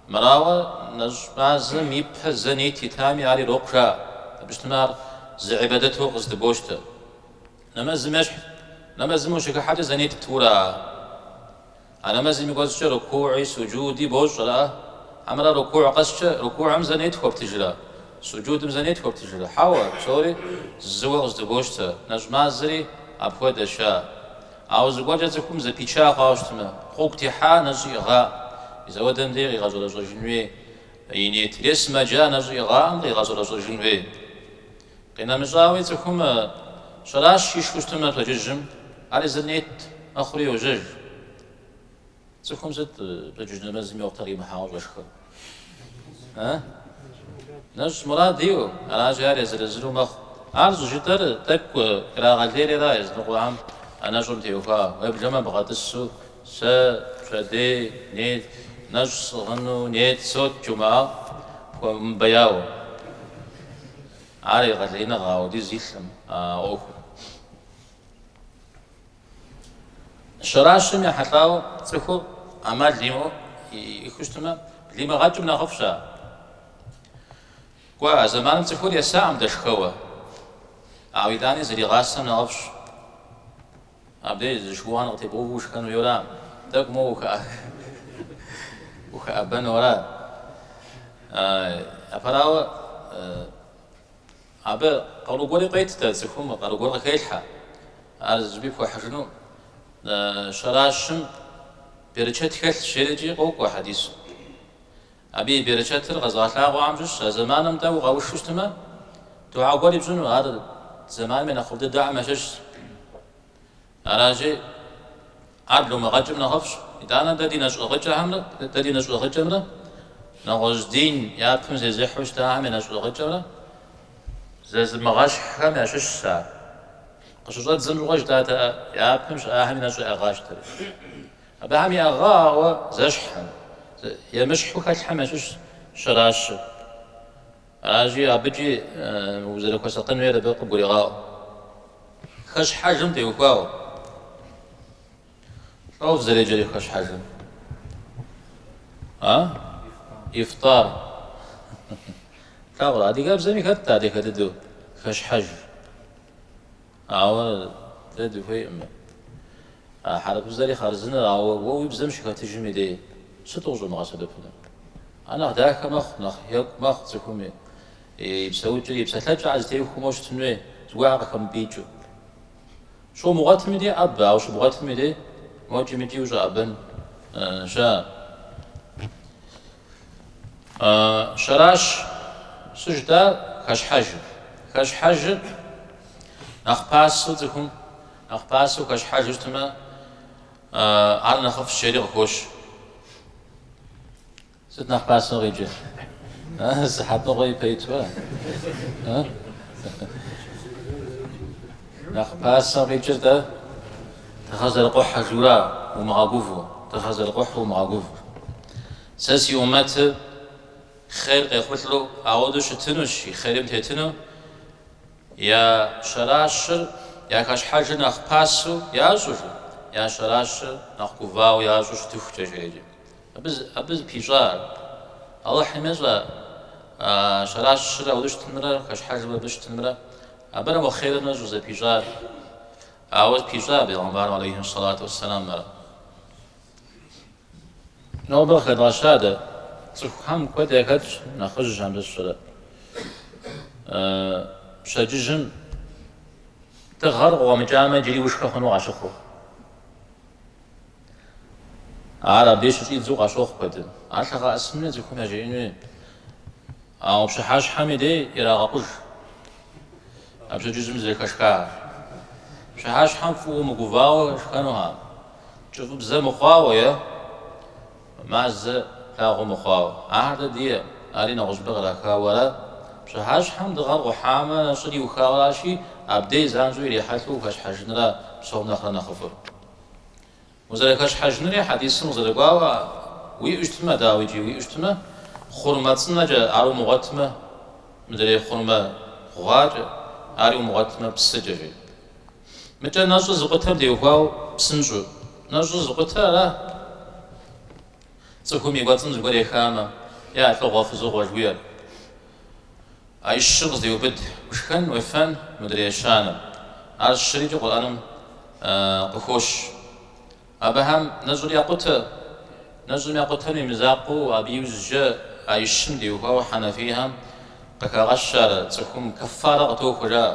Мэрауэ, нэщӏ мазэм ипэ зэ нет итами, ар ирокъу жаӏэ. Абы щытмэ, ар зы гӏибадэту къыздыбощтэ. Нэмэзым ещхь, нэмэзым ущыхыхьэкӏэ зэ нет пту ара. А нэмэзым и кӏуэцӏкӏэ рукугӏи суджуди бощӏрэ? Хьэмэрэ рукугӏ къэскӏэ рукугӏым зэ нет хуэптыжрэ? Суджудым зэ нет хуэптыжрэ? Хьэуэ, псори зыуэ къыздыбощтэ, нэщӏ мазэри апхуэдэщ. А! Ауэ зыгуэркӏэ цӏыхум зэпича хъуауэ щытмэ, гъуэгу техьа нэщӏ иӏыгъакъым, мис ауэдэм дей къигъэщӏэрэщӏэжын хуей и нетыр е сымаджа нэщӏ иӏыгъакъым, къигъэщӏэрэщӏэжын хуей? Къинэмыщӏауи, цӏыхум сэрэш ишхыу щытмэ пщэдджыжьым, ар езыр нет мэхъури йожьэж. Цӏыхум сыт пщэдджыжь нэмэзым и уэхътыр къимыхьауэ щӏэшхэр? Э? Нэщӏ мурад иӏэу, аращи ар езыр-езыру мэхъу. Ар щӏыжытӏэр тӏэкӏу ирагъэлейри ара языныкъуэхэм а нэщӏым теухуа уеблэмэ бгъэтӏысу Сэ пщэдей нет, нэщӏ сӏыгъыну нет сощӏ, жумыӏа хуэмыбэяуэ. Ар егъэлеиныгъэ ауэдиз илъым а ӏуэхур. Щэращым ехьэлӏауэ цӏыхур ӏэмал имыӏэу иӏэххэу щытмэ, блимыгъэкӏым нэхъыфӏщ ар. Кӏуэ, а зэманым цӏыхур есакъым дэ шхэуэ, ауэ итӏани зригъасэм нэхъыфӏщ. Абдей зы шыуан къытебгъэуву ушхэну хуейуэ ара? Тӏэкӏу моуэ ухэӏэбэну ара? Япэрауэ, абы къару гуэри къыует дэ, цӏыхум къару гуэр къыхелъхьэ. Ар зыщӏыпӏи пхуэхьыжыну щэращым берычэт хэлъщ, жери икӏи къокӏуэ хьэдисым. Абы и берычэтыр къэзгъэлъагъуэхэм щыщщ, а зэманым тӏэу укъэушу щытмэ, духьэ гуэр ипщӏыну, ар зэман нэхъыфӏ дыдэхэм ящыщщ. Аращи, ар блумыгъэкӏым нэхъыфӏщ. Итӏанэ дэ ди нэщӏыгъыкӏэхэмрэ, дэ ди нэщӏыгъыкӏэмрэ нэгъуэщӏ дин япэм зезыхьу щытахэм я нэщӏыгъыкӏэмрэ зэзымыгъэщхьхэм ящыщщ ар. Къыщыщӏэддзэм щыгъуэ жытӏатэ япэм щыӏахэм и нэщӏ яӏыгъащтэри. Абыхэм яӏыгъауэ зэщхьым, емыщхьу хэлъхэм ящыщщ щэращыр. Аращи, абыкӏи узэрыхуэсакъын хуейр абы къыбгурегъаӏуэ. Хэщхьэжым теухуауэ. Лӏо фызэреджэр хэщхьэжым. А? Ифтар. Плъагъурэ, адыгэбзэми хэтт адыгэ дыдэу хэщхьэж. Ауэ дэ дыхуейкъым. А хьэрыпыбзэри хъарзыныр, ауэ уэ уи бзэм щыхэтыжым и дей сыт къыщӏумыгъэсэбэпыну? Ар нэхъ дахэ мэхъу, нэхъ екӏу мэхъу цӏыхум и и псэукӏэр, и псэлъэкӏэр зэтехуэу моуэ щытын хуей, зыгуэрхэр къыхэмыпӏикӏыу. Щумыгъуэтым и дей ӏэбэ, ауэ щыбгъуэтым и дей мокӏи мыкӏи ущӏэӏэбэн щыӏэ? Щэращ сыт жытӏэр хэщхьэжыр. Хэщхьэжыр Нэхъ пасэу цӏыхум нэхъ пасэу хэщхьэжу щытмэ, ар нэхъыфӏщ жери къыхощ. Сыт нэхъ пасэу къеджэ? Сыхьэтыгъуэ ипэ итуэ? Нэхъ пасэу къикӏыр дэ дыгъэр зэрыкъухьэжу ара умыгъэгуву, дыгъэр зэрыкъухьу умыгъэгуву. Сэ си умэтыр хъер къехъулӏэу ауэдэу щытынущ, и хъерим тетыну, Я щэращыр я хэщхьэжыр нэхъ пасэу ящӏрэ, я щэращыр нэхъ гувауэ ящӏу щытыхукӏэ жеӏэкӏэ. Абы, абы зыпищӏа ар. Алыхьым ещӏэ а щэращыр ауэдэ щытынымрэ хэщхьэжым абы щытынымрэ. Абырэм уэ хъерыр нэщӏу зэпищӏар. Ауэ пищӏа бегъымбарым алейхьи сэлату уэсэлам ар. Нобэ къыхэдгъэща дэ. Цӏыхухэм куэд яхэтщ нэхъыжь абы сщӏэрэ. Пщэдджыжьым дыгъэр къыкъуэмыкӏамэ, иджыри ушхэ хъуну къащыхъур. Ар абы щыщӏидзу къащохъу куэдым. Ар лъэгъэӏэсын цӏыхум яжеӏэн хуей, ауэ пщыхьэщхьэми дей ирагъэкъуж а пщэдджыжьым зэрыхэшхар. Пщыхьэщхьэм фӏыуэ мыгувауэ шхэнухэм. Кӏыфӏыбзэ мыхъуауэ е мазэ лъагъуэ мыхъуауэ, ахэр дэ дие, ари нэгъуэщӏыпӏэ кърахауэ ара? Пщыхьэщхьэм дыгъэр къухьамэ, нэщӏыр иухауэ аращи, абдей занщӏэу ирихьэлӏэу ухэщхьэжынра псом нэхърэ нэхъыфӏыр? Узэрыхэщхьэжынри хьэдисым къызэрыкӏуауэ уиӏэу щытмэ, дауи икӏи уиӏэу щытмэ, хъурмэ цӏынэкӏэ, ар умыгъуэтмэ, мыдрей хъурмэ гъуакӏэ, ари умыгъуэтмэ, псыкӏэ, жи. Мыкӏэ нэщӏыр зыкъутэм теухуау псынщӏэу. Нэщӏыр зыкъутэ ара? Цӏыхум и кӏуэцӏым зыгуэр ехамэ, е а лӏыгъуэ-фызыгъуэ жыхуиӏэр. А и щыр къыздеубыд, ушхэн уефэн мыдрей ещанэм. А щырикӏи Къурӏэным къыхощ. Абыхэм нэщӏыр якъутэ. Нэщӏыр якъутэм и мызакъуэу абы иужькӏэ а и щым теухуау хьэнэфийхэм къыхагъэщ ар, цӏыхум кэффарэ къытохуэ жаӏэ.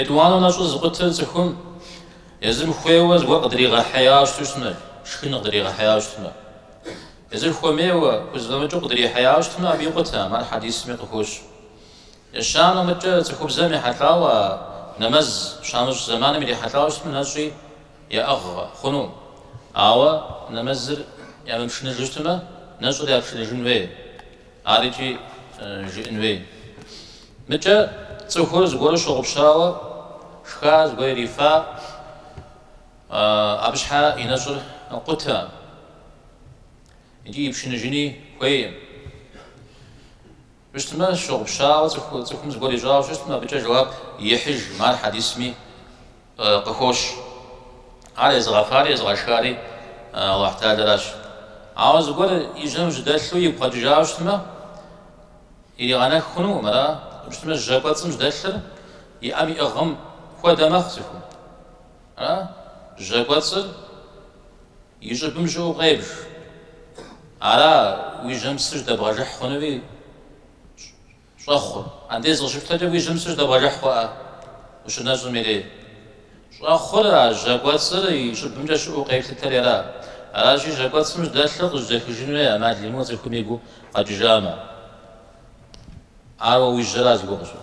Етӏуанэ нэщӏыр зыкъутэр цӏыхум езым хуейуэ зыгуэр къыдригъэхьеяуэ щыту щытмэ, шхын къыдригъэхьеяуэ щытмэ. Езыр хуэмейуэ, хузэфӏэмыкӏыу къыдрихьеяуэ щытмэ, абы икъутэм, ар хьэдисми къыхощ. Ещанэ мыкӏэ цӏыхубзэм ехьэлӏауэ а нэмэз щамыщӏ зэманым ирихьэлӏауэ щытмэ, нэщӏи яӏыгъ хъуну. Ауэ нэмэзыр ямыпшыныжу щытмэ, нэщӏыр япшыныжын хуей. Ар икӏи жыӏэн хуей. Мыкӏэ цӏыхур зыгуэру щыгъупщауэ шха, зыгуэр ирифа, абы щхьэ и нэщӏыр къутэ икӏи ипшыныжыни хуейм. Щытмэ, щыгъупщауэ цӏыхум зыгуэр ищӏауэ щытмэ, абыкӏэ жэуап ихьыжым, ар хьэдисми. къыхощ. Ар езыгъэфари езыгъэшхари Алыхь Тэхьэлэращ. Ауэ зыгуэр и жьэм жьэдэлъу игу къэкӏыжауэ щытмэ, иригъэнэх хъунукъым, ара щытмэ жьэ кӏуэцӏым жьэдэлъыр и ӏэм иӏыгъым хуэдэ мэхъу цӏыхум. Ара жьэ кӏуэцӏыр и щӏыбым щыӏэу къебж. Ара уи жьэм псы жьэдэбгъэжыхь хъунуи Щӏэхъур. Андез къыщыпщтэкӏэ уи жьэм псыр жьэдэбгъэжыхь хъуӏэ ущынэщӏым и дей. Щӏэхъур а жьэ кӏуэцӏыр и щӏыбымкӏэ щыӏэу къелъытэри ара? Аращи, жьэ кӏуэцӏым жьэдэлъыр къыжьэдэхыжын хуей ӏэмал имыӏэу цӏыхум и гу къэкӏыжамэ. Ауэ уи жьэра зыгуэр къыщӏыр?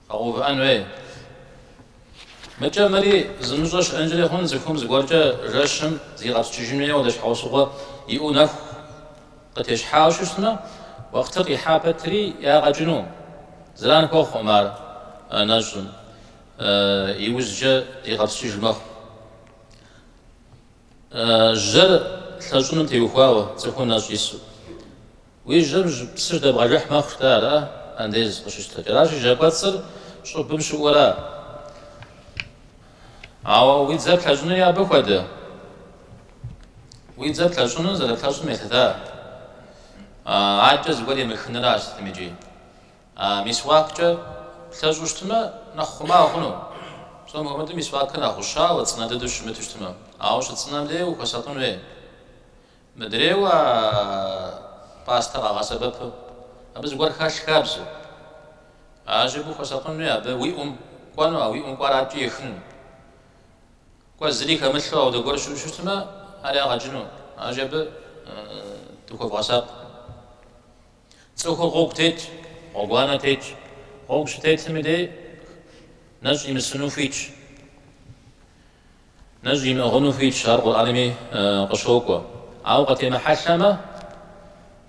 Къэгъэувыӏэн хуей. Мыкӏэ мыри зымыщӏэ щыӏэнкӏэри хъун, цӏыхум зыгуэркӏэ жэщым зигъэпскӏыжын хуейуэ ауэдэ щхьэусыгъуэ иӏэу нэху къытещхьауэ щытмэ, уэхътыр къихьа пэтри ягъэ кӏыну. Зэран хуэхъуӏым ар нэщӏым, иужькӏэ зигъэпскӏыж мэхъу. Жьэр лъэщӏыным теухуауэ цӏыхум нэщӏ ису. Уи жьэм псы жьэдэбгъэжыхь мэхъу-тӏэ ара, андез къыщыпщтэкӏэ. Аращи, жьэ кӏуэцӏыр щӏыбым щыӏэу ара? Ауэ уи дзэр плъэщӏынуи абы хуэдэ. Уи дзэр плъэщӏыну зэрыплъэщӏым елъыта? Адэкӏэ зыгуэр емыхынращ сытми, икӏи. Мисуаккӏэ плъэщӏу щытмэ, нэхъ хъума хъуну? Псом хуэмыдэу мисуакыр нэхъ гъущауэ, цӏынэ дыдэу щымыту щытмэ. Ауэ щыцӏынэм дей ухуэсакъын хуей. Мыдрейуэ а пастэ къагъэсэбэпу, абы зыгуэр хэлъ хабзэу. Аращи абы ухуэсакъынуи абы уи ӏум кӏуэну, а уи ӏум кӏуар адэкӏи ехыну. Кӏуэ зыри хэмылъу ауэдэ гуэр щыӏэу щытмэ, ари ягъэ кӏыну. Аращи абы дыхуэвгъэсакъ. Цӏыхур гъуэгу тетщ, гъуэгуанэ тетщ. Гъуэгу щытетми дей нэщӏ имысыну хуитщ. Нэщӏ имыӏыгъыну хуитщ, ар Къурӏэнми къыщокӏуэ. Ауэ къытемыхьэлъэмэ,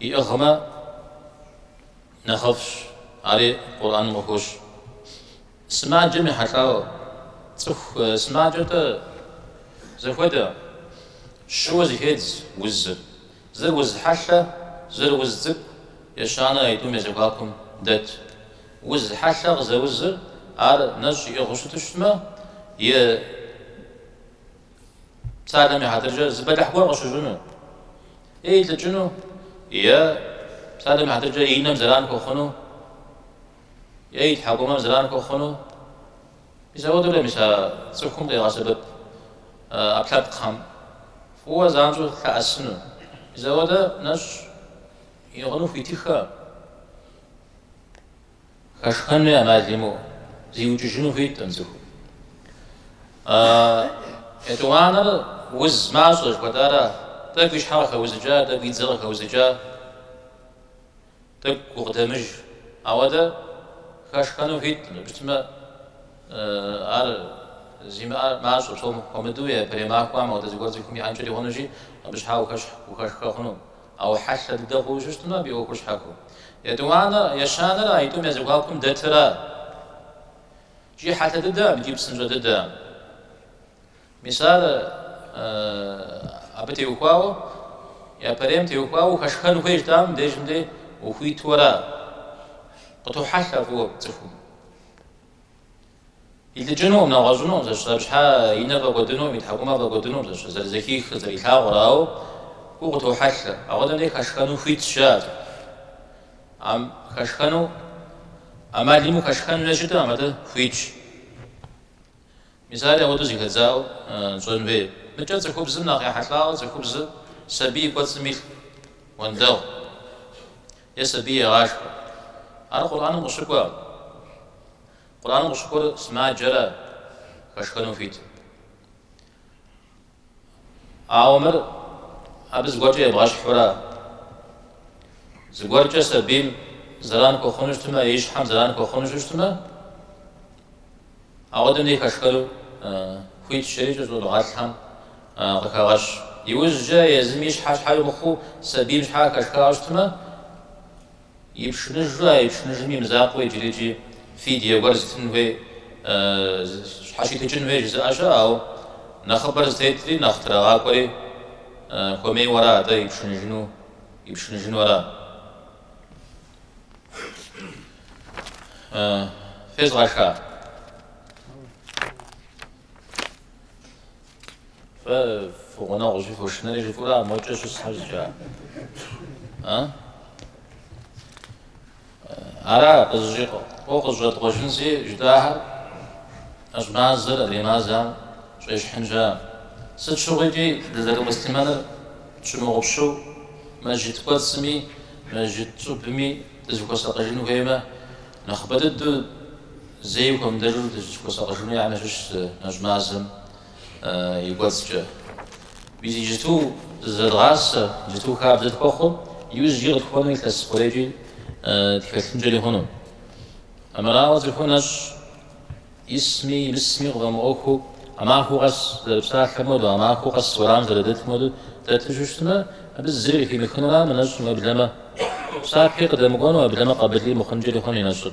иӏыгъмэ нэхъыфӏщ, ари Къурӏэным къыхощ. Сымаджэм ехьэлӏауэ, цӏыху сымаджэ-тӏэ зэхуэдэ, щыуэ зыхедз узыр, зыр уз хьэлъэ, зыр уз цӏыкӏу, ещанэ а тӏум я зэхуакум дэт. Уз хьэлъэ къызэузыр ар нэщӏ иӏыгъыу щыту щытмэ, е псалъэм и хьэтыркӏэ зы бэлыхь гуэр къыщыщӏыну, е илӏыкӏыну, е псалъэм и хьэтыркӏэ и нэм зэран хуэхъуну, е и тхьэкӏумэм зэран хуэхъуну, мис апхуэдэурэ мис а цӏыхум къигъэсэбэп ӏэпкълъэпкъхэм фӏыуэ занщӏэу лъэӏэсыну. Мис апхуэдэ нэщӏ иӏыгъыну хуитыххэ. Хэшхэнуи амал имыӏэу зиукӏыжыну хуитӏым цӏыхум. Етӏуанэр уз мащӏэ жыхуэтӏара? Тӏэкӏу и щхьэ къыхэузыкӏа, тӏэкӏу и дзэ къыхэузыкӏа, тӏэкӏу гукъыдэмыж. Ауэдэ хэшхэнуи хуитӏым. Мыбы щытмэ, ар зимыӏэр мащӏэ, псом хуэмыдэу, япэрей махуэм ауэдэ зыгуэр цӏыхум иӏэнкӏэри хъунущи, абы щхьа ухэшхэ хъуну. Ауэ хьэлъэ дыдэ хъууэ щыщытым, абы и ӏуэхур щхьэхуэщ. Итӏанэ, ещанэрэ а тӏум я зэхуакум дэтыр ар. Икӏи хьэлъэ дыдэ абы икӏи псынщӏэ дыдэ. Мис ар абы теухуауэ, япэрейм теухуауэ ухэшхэн хуейщ дэ, ам дежым де ухуиту ара. Къытохьэлъэ фӏыуэ цӏыхум. Илӏыкӏынукъым, нэгъуэщӏынукъым, зэщ зэпщхьэ и нэр фӏэкӏуэдынукъым, и тхьэкӏумэр фӏэкӏуэдынукъым, зэщ зэрызэхихыр, зэрилъагъур, ауэ гугъу къытохьэлъэ. Апхуэдэм дей хэшхэну хуитщ, жаӏэрт. Ам, хэшхэну, ӏэмал имыӏэу хэшхэн хуейуэ щыткъым, апхуэдэ хуитщ. Мис ари, апхуэдэу зэхэдзауэ тщӏэн хуей. Мыкӏэ цӏыхубзым нэхъ ехьэлӏауэ цӏыхубзыр сабий и кӏуэцӏым илъ уэндэгъу е сабий егъашхэ. Ар Къурӏэным къыщыкӏуэкъым. Къурӏэным къыщыкӏуэр сымаджэра хэшхэну хуит? Ауэ мыр абы зыгуэркӏэ ебгъэщхьу ара? Зыгуэркӏэ сабийм зэран хуэхъуну щытмэ, и щхьэм зэран хуэхъуну щыщытмэ, апхуэдэм дей хэшхэну хуитщ, ари икӏи щӏэныгъэлӏхэм къыхагъэщ. Иужькӏэ езым и щхьэ щхьэкӏэ мыхъуу сабийм щхьэ хэшхауэ щытмэ, Ипшыныжу, а ипшыныжым и мызакъуэ иджыри икӏи фидие гуэр зытын хуей, щхьэщитыкӏын хуей жызыӏэ щыӏэ, ауэ нэхъыбэр зытетри, нэхъ трагъэкӏуэри хуэмейуэ ара атӏэ ипшыныжыну, ипшыныжыну ара? Фезгъэша? Фэ фи гъунэгъу жыхуэшынэри жыфӏыра мокӏэ щысхэр зыкӏа? А? Ара къызэщӏэкъуауэ къызэщӏэткъуэжынщи жытӏахэр, нэщӏ мазэр адрей мазэм щӏещхьынща? Сыт щыгъуи икӏи дызэрымуслъымэныр тщымыгъупщэу мэжджыт кӏуэцӏми мэжджыт щӏыбми дызыхуэсакъыжын хуеймэ, нэхъыбэ дыдэу Зэи хуэмыдэжу дыщыхуэсакъыжыну ящыщ зы нэщӏ мазэм и кӏуэцӏкӏэ. Мис иджыту зызэдгъасэ, иджыту хабзэ тхуэхъу, иужькӏи къытхуэнэу илъэс хъурейкӏи тхэлъынкӏэри хъуну. Армырауэ цӏыхур нэщӏ исми имысми къыфӏэмыӏуэхуу, махуэ къэс зэрыпсалъэм хуэдэу, махуэ къэс уэрамым зэрыдэтым хуэдэу дэту щыщытмэ, абы зыри къыхимыхыну ара мы нэщӏым уеблэмэ? Псапи къыдэмыкӏуэну, уеблэмэ къабылри мыхъункӏэри хъуну и нэщӏыр.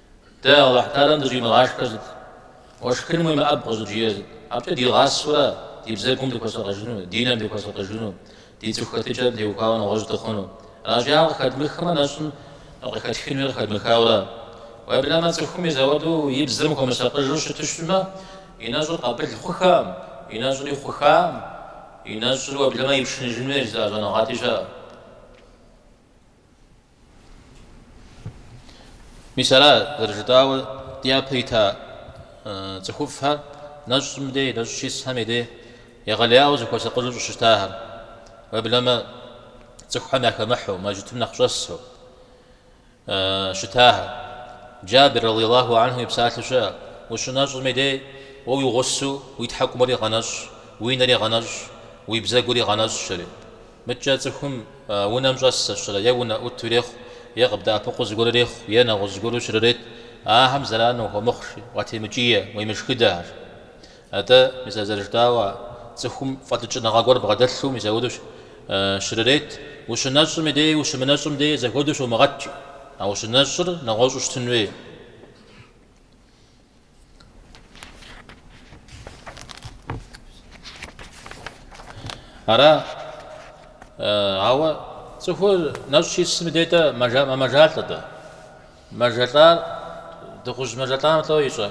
Дэ Алыхь Таалям дыщӏимыгъашхэр сыт, уэ шхыным уемыӏэб къыщӏыджиӏэр сыт, абыкӏэ дигъасэурэ ди бзэгум дыхуэсакъыжыну, ди нэм дыхуэсакъыжыну, ди цӏыху хэтыкӏэм теухуауэ нэгъуэщӏ дыхъуну. Аращи, ар къыхэдмыхмэ, нэщӏым къыхэтхынуи къыхэдмыхауэ ара. Уеблэмэ, цӏыхум мис ауэдэу и бзэм хуэмысакъыжу щыту щытмэ, и нэщӏыр къабыл хъухам, и нэщӏри хъухам, и нэщӏыр уеблэмэ ипшыныжын хуейщ жызыӏэ щӏэныгъэлӏи щыӏэ. Мис ара зэрыжытӏауэ дяпэ ита цӏыхуфӏхэр нэщӏым дей, нэщӏ щисхэм и дей егъэлеяуэ зыхуэсакъыжу щӏыщытахэр, уеблэмэ цӏыхухэм яхэмыхьу, мэжытым нэхъ щӏэсу щытахэр. Джабир, радиаллаху анху, и псалъэу щыӏэ, Ущынэщӏым и дей, уэ уи гъусэу уи тхьэкӏумэри гъэнэщӏ, уи нэри гъэнэщӏ, уи бзэгури гъэнэщӏ, жери. Мыдкӏэ цӏыхум унэм щӏэс сэ сщӏэрэ е унэӏуту ирехъу, е къыбдэӏэпыкъуу зыгуэр ирехъу, е нэгъуэщӏ зыгуэру щрырет, ахэм зэран уахуэмыхъу жи, уатемыкӏие, уемышхыдэ ар. Атӏэ, мис ар зэрыжытӏауэ, цӏыхум фӏэлӏыкӏыныгъэ гуэр бгъэдэлъу мис апхуэдэу щрырет, ущынэщӏым дей ущымынэщӏым дей зэхуэдэу щомыгъэткӏ, а ущынэщӏыр нэгъуэщӏу щытын хуей. Ара, ауэ цӏыхур нэщӏ щисым и дей дэ мэмэжалӏэ дэ. Мэжэлӏар, дыгъужь мэжэлӏам лӏо ищӏэ.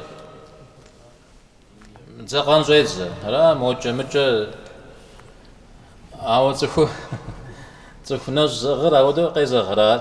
Дзэкъэн щӏедзэ. Ара мокӏэ мыкӏэ. Ауэ цӏыху цӏыху нэщӏ зыӏыгъыр ауэдэу къезэгърэ ар.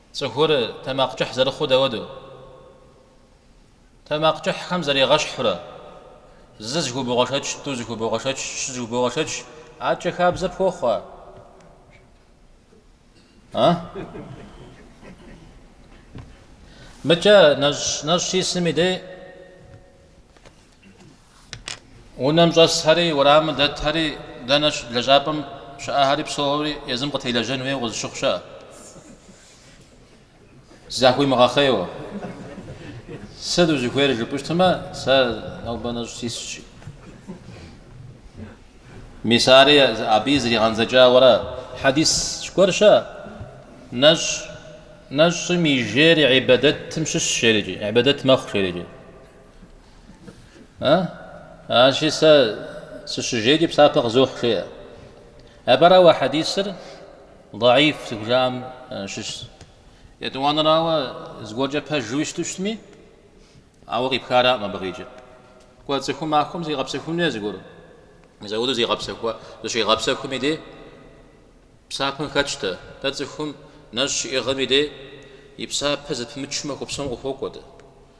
Цӏыхур тэмакъ кӏыхь зэрыхъур дауэду? Тэмакъ кӏыхьхэм заригъэщхьурэ, зы зыхубогъэшэч, тӏу зыхубогъэшэч, щы зыхубогъэшэч, аркӏэ хабзэ пхуохъу? А? Мыкӏэ нэщӏ нэщӏ щисым и дей Унэм щӏэсхэри, уэрамым дэтхэри, дэнэ лэжьапӏэм щыӏэхэри псори езым къытелэжьэн хуейуэ къызыщыхъу щыӏэ. Захуимыгъэхъейуэ. Сыт узыхуейр жыпӏэу щытмэ, сэ нобэ нэщӏ сисщи. Мис ари абы зэригъэдзэкӏауэ ара, хьэдис гуэр щыӏэ. Нэщӏ нэщӏым и жейри ибадэтым щыщ жери, ибадэт мэхъу жери. А? Аращи сэ сыщыжейкӏи псапэ къызохь жеӏэ. Апэрауэ хьэдисыр даиф зыхужаӏэм щыщ. Етӏуанэрауэ зыгуэркӏэ пэжуи щыту щытми, ауэ къипх араӏым абы къикӏи. Кӏуэ цӏыхум махуэм зигъэпсэхуну е зыгуэр. Мис ауэду зигъэпсэхуа, зыщигъэпсэхуми дей псапэм хэтщтэ. Дэ цӏыхум нэщӏ щиӏыгъыми дей и псапэ зэпымычу махуэ псом къыхуокӏуэ дэ.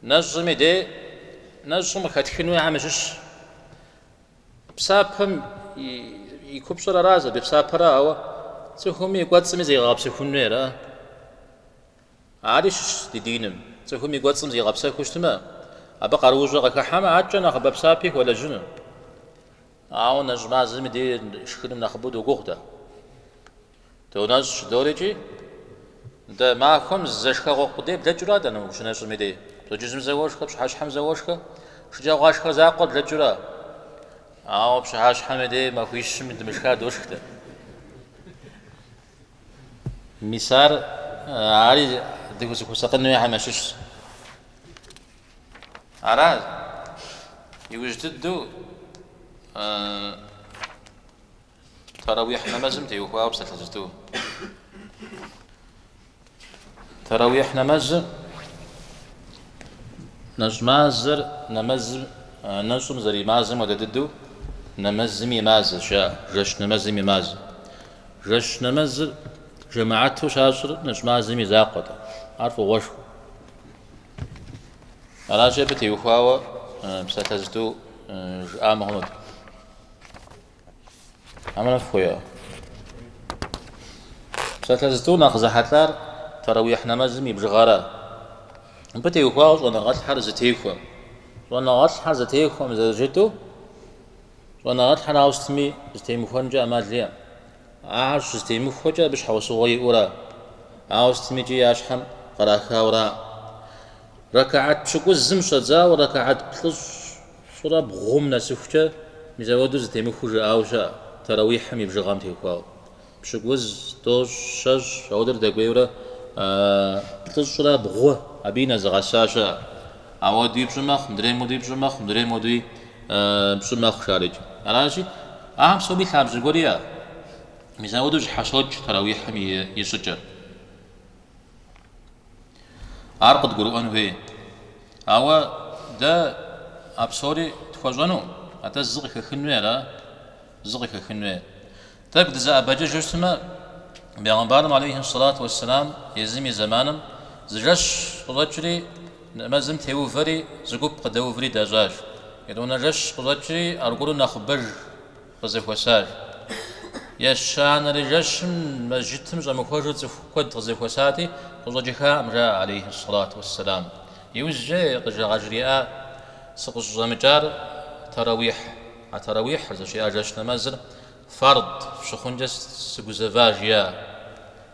Нэщӏми де нэщӏым къыхэтхын хуейхьэм ящыщщ. Псапэм и купщӏэр ара зэбепсапэрэ, ауэ цӏыхум и кӏуэцӏым зегъэгъэпсэхун хуей ара. Ари щыщ ди диным. Цӏыхум и кӏуэцӏым зигъэпсэхуу щытмэ, абы къаруущӏэ къыхыхьэмэ, адэкӏэ нэхъыбэ псапи хуэлэжьыну. Ауэ нэщӏ мазэми де шхыным нэхъыбэу догугъу дэ. Донэщӏ жыдоӏэри икӏи, дэ махуэм зэ шхэгъуэ къудей блэкӏыра дэнэ ущынэщӏыми дей, пщэдджыжьым зэ уошхэ, пщыхьэщхьэм зэ уошхэ, шэджагъуашхэ закъуэр блэкӏыра? Ауэ пщыхьэщхьэми дей махуищым дымышха дошх дэ. Мис ар ари дызыхуэсакъын хуейхьэм ящыщщ. Ара, иужь дыдэу Таравихь нэмэзым теухуауэ псалъэ зыту. Таравихь нэмэзыр нэщӏ мазэр нэмэзым нэщӏым зэримазэм хуэдэ дыдэу нэмэзым и мазэщ, а жэщ нэмэзым и мазэ. Жэщ нэмэзыр жэмаату щащӏыр нэщӏ мазэм и закъуэт, ар фӏыгъуэшхуэ. Аращи абы теухуауэ псалъэ зыту жыӏа мыхъунут. Аминат хуео. Псалъэ зыту нэхъ зэхьэлӏар таравихь нэмэзым и бжыгъэра. Мыбы теухуауэ щӏэныгъэлӏхьэр зэтехуэӏым. Щӏэныгъэлӏхьэр зэтехуэӏым зэрыжытӏэу, щӏэныгъэлӏхьэр ауэ сытми зэтемыхуэнкӏэ ӏэмал иӏэӏым. Ахэр щызэтемыхуэкӏэ абы щхьэусыгъуэ иӏэура, ауэ сытми икӏи я щхьэм кърахауэра. Рэкаат пщыкӏузым щӏэдзауэ рэкаат плӏыщӏ Щӏырэ бгъум нэсыхукӏэ мис ауэду зэтемыхуэу жыӏауэ щыӏэ, тэрэуихьым и бжыгъэм теухуауэ. Пщыкӏуз, тӏощӏ, щэщӏ, ауэдурэ дэкӏуейурэ плӏыщӏрэ бгъу абы нэзыгъэса щыӏэ. Ауэдуи пщӏы мэхъу, мыдрейм хуэдуи пщӏы мэхъу, мыдрейм хуэдуи пщӏы мэхъу шарыкӏ. Аращи, ахэм псоми лъабжьэ гуэр иӏэ. Мис ауэду зэщхьэщокӏ тэрэуихьым и щӏыкӏэр. Ар къыдгурыӏуэн хуей. Ауэ дэ а псори тхуэщӏэну, атӏэ зы къыхэхын хуей ара? Зы къыхэхын хуей. Тӏэкӏу дызэӏэбэкӏыжу щытмэ, Бегъымбарым алейхи сэлату уэсселам езым и зэманым зы жэщ къыщӏэкӏри, нэмэзым теувэри, зы гуп къыдэуври дэщӏащ. Итӏанэ жэщ къыщӏэкӏри, аргуэру нэхъыбэж къызэхуэсар. Ещанэрэ жэщым мэжджытым щӏэмыхуэжу цӏыху куэд къызэхуэсати, къыщӏэкӏыхакъым, жаӏэ алейхьи сэлату уэсселам. Иужькӏэ къыжа къажриӏа, Сыкъыщӏыщӏэмыкӏар таравихь, а таравихьыр, зыщиӏа жэщ нэмэзыр, фард щыхъункӏэ сыгузэва, жиӏа.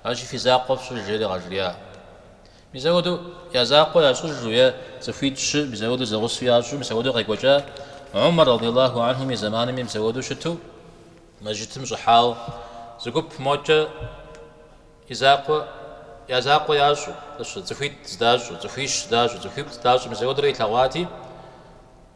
Аращи, фи закъуэ фщӏыж, жери къажриӏа. Мис апхуэдэу я закъуэ ящӏыжу е цӏыхуитӏ-щы мис апхуэдэу зэгъусэу ящӏу мис апхуэдэу къекӏуэкӏа Умар радиаллаху анхум и зэманми мис апхуэдэу щыту мэжджытым щӏыхьауэ зы гуп мокӏэ и закъуэ я закъуэ ящӏу, цӏыхуитӏ здащӏу, цӏыхуищ здащӏу, цӏыхуиплӏ здащӏу мис апхуэдэурэ илъэгъуати,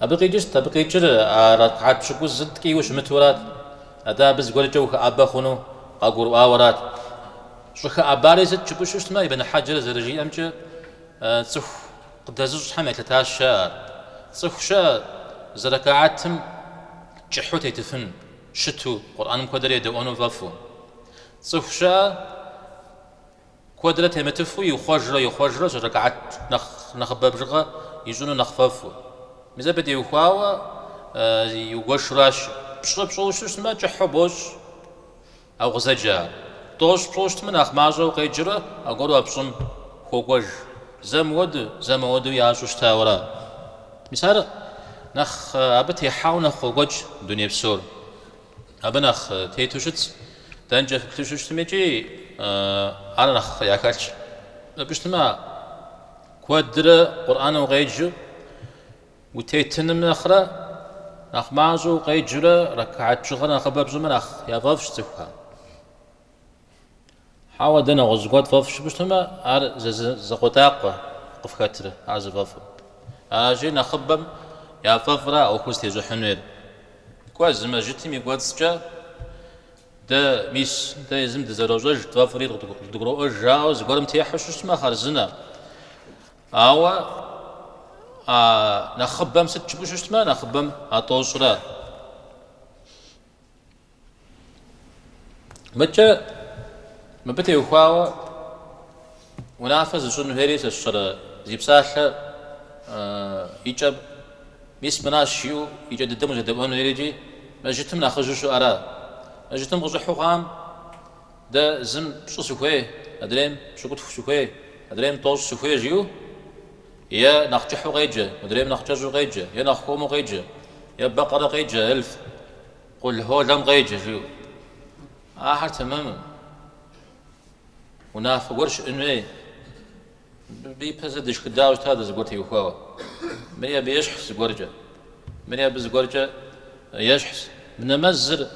Абы къикӏыщт, абы къикӏыр а ракгьат пщыкӏузыр ткӏийуэ щымытурат. Атӏэ абы зыгуэркӏэ ухэӏэбэ хъуну къагурыӏуауэрат. Щӏыхэӏэбари сыт жыпӏэу щыщытмэ, Ибн Хьэджэр зэрыжиӏэмкӏэ, цӏыху къыдэзыщӏхэм елъытащ ар. Цӏыху щыӏэ зы ракгьатым кӏыхьу тетыфын, щыту, Къурӏэным куэдрэ едэӏуэну фӏэфӏу. Цӏыху щыӏэ Куэдрэ темытыфу ихъуэжрэ ихъуэжрэ щӏы рэкаат нэхъ нэхъыбэ бжыгъэ ищӏыну нэхъ фӏэфӏу. Мис абы теухуауэ иугуэшуращ. Пщӏы пщӏыуэ щыщытмэ, кӏыхьу бощӏ а укъызэджэр. Тӏощӏ пщӏыу щытмэ, нэхъ мащӏэу укъеджэрэ аргуэру а пщӏым хуокӏуэж. Зэ мыуэду, зэ мыуэду ящӏу щытауэра. Мис ар нэхъ абы техьауэ нэхъ къокӏуэкӏ дуней псор. Абы нэхъ тету щытщ, дэнкӏэ фыплъэу щыщытми икӏи ар нэхъ яхэлъщ. Жыпӏэу щытмэ, куэдрэ Къурӏэн укъеджэу утетыным нэхърэ, нэхъ мащӏэу укъеджэурэ ракгьат бжыгъэр нэхъыбэ пщӏымэ нэхъ яфӏэфӏщ цӏыхухэм. Хьэуэ, дэ нэгъуэщӏ гуэр тфӏэфӏ жыпӏэу щытмэ, ар зы закъуэтӏакъуэ къыфхэтрэ, ар зыфӏэфӏыр? Аращи, нэхъыбэм яфӏэфӏра а ӏуэхур зытещӏыхьын хуейр? Кӏуэ, зы мэжджытым и кӏуэцӏкӏэ дэ, мис, дэ езым дызэрощӏэж, тфӏэфӏри къыдгуроӏуэж жаӏэу зыгуэрым техьэу щыщытмэ, хъарзынэ. Ауэ а нэхъыбэм сыт жыпӏэу щыщытмэ, нэхъыбэм а тӏощӏра? Мыдкӏэ мыбы теухуауэ унафэ зыщӏын хуейри сэ сщӏэрэ зи псалъэ и кӏэ мис мыращ жиӏэу и кӏэ дыдэм узэдэӏуэн хуейрикӏи мэжытым нэхъыжьу щыӏэра? Мэжытым къыщӏыхьу хъуам дэ зым пщӏы сыхуей, адрейм пщыкӏутху сыхуей, адрейм тӏощӏ сыхуей жиӏэу е нэхъ кӏыхьу къеджэ, мыдрейм нэхъ кӏэщӏу къеджэ, е нэхъ хуэму къеджэ, е бэкъэрэ къеджэ, эльф. Къулхьуэлэм къеджэ, жиӏэу. Ахэр тэмэму. Унафэ гуэр щыӏын хуей. Мыбы ипэ зэ дышхыдауэ щыта дэ зыгуэр теухуауэ. Мыри абы ещхьщ зыгуэркӏэ. Мыри абы зыгуэркӏэ ещхьщ. Мы нэмэзыр,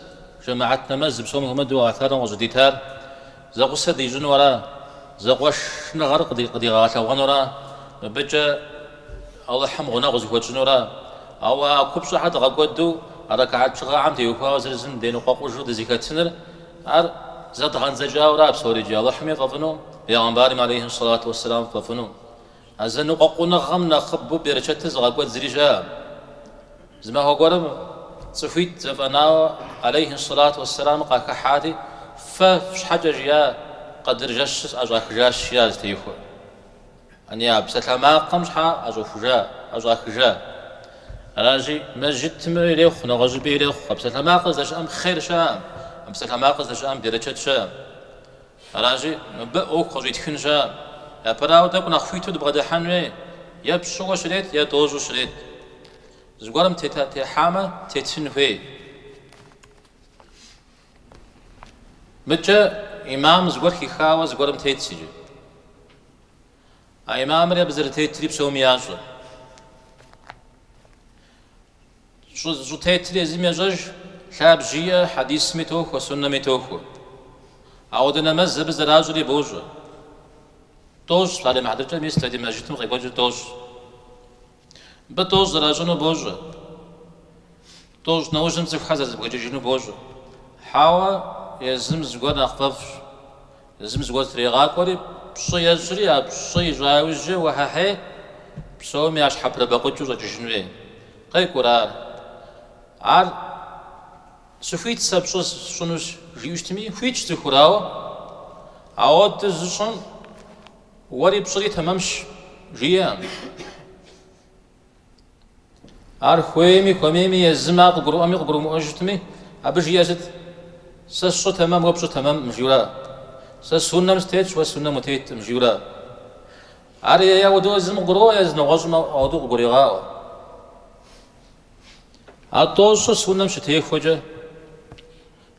жэмыхьэт нэмэз, псом хуэмыдэу Алыхьталэм къыщӏыдитар, Зэгъусэ дищӏыну ара? Зэкъуэшныгъэр къыдигъэгъэлъэгъуэнура? Мыбыкӏэ Алыхьым гъунэгъу зыхуэтщӏынура? Ауэ а купщӏэхэр дгъэкӏуэду рэкэхьэт бжыгъэхэм теухуауэ зырызым деныкъуэкъужу дызэхэтыныр, ар зэдгъэндзэкӏауэ ара псори иджы, Алыхьыми фӏэфӏыну, Бегъымбарми алейхьи сэлату уэсселам фӏэфӏыну? А зэныкъуэкъуныгъэм нэхъыбэу берычэтыр зыгъэкӏуэд зыри щаӏэм. Зы махуэ гуэрым цӏыхуитӏ зэфӏэнауэ алейхьи сэлату уэссэлам къахыхьэри, Фэ фщхьэкӏэ жиӏа къэдыр жэщыр сӏэщӏахыжащ, жиӏащ зытехуэ. Ани а псалъэмакъым щхьэ ӏэщӏэхужа, ӏэщӏахыжа? Аращи, мэжытым ирехъу, нэгъуэщӏыпӏи ирехъу. А псалъэмакъыр здэщыӏэм хъер щаӏэм, а псалъэмакъыр здэщыӏэм берычэт щаӏэм. Аращи, мыбы ӏуэху къыщӏитхын щаӏэм. Япэрауэ, тӏэкӏу нэхъ хуиту дыбгъэдыхьэн хуей, е пщӏыуэ щрет, е тӏощӏу щрет. Зыгуэрым тета техьамэ, тетын хуей. Мыдкӏэ имам зыгуэр хихауэ зыгуэрым тетщ иджы. А имамри абы зэрытетри псоми ящӏэ. Щӏытетыр езым ещӏэж, лъабжь иӏэ, хьэдисми тохуэ, суннэми тохуэ. Ауэдэ нэмэз абы зэращӏри бощӏэ. Тӏощӏ, псалъэм хьэтыркӏэ мис дэ ди мэжытым къекӏуэкӏыр тӏощӏ. Мыбы тӏощӏ зэращӏыну бощӏэ. Тӏощӏ нэужьым цӏыхухэр зэрызэбгрыкӏыжыну бощӏэ. Хьэуэ, езым зыгуэр нэхъ фӏэфӏщ. Зым зыгуэ зытрегъакӏуэри, пщӏы ещӏри, а пщӏы ищӏа иужькӏэ уэхьэхьей, псоми ящхьэпрыбэкъукӏыу щӏэкӏыжын хуей. Къекӏурэ ар. Ар сыхуит сэ пщӏы сщӏынущ, жиӏэу щытми, хуитщ цӏыхур, ауэ ауэду зыщӏым уэри пщӏыри тэмэмщ, жиӏэ. Ар хуейми, хуэмейми, езым ар къыгурыӏуэми къыгурымыӏуэ щытми, абы жиӏэ сыт? Сэ сщӏы тэмэм, уэ пщӏы тэмэмкъым, жиура? Сэ суннэм сытетщ, уэ суннэм утеткъым, жиура? Ар е ауэдэу езым къыгурыӏуэ, езы нэгъуэщӏым ауэдэу къыгурегъаӏуэ. Ар тӏощӏыр суннэм щытехуэкӏэ,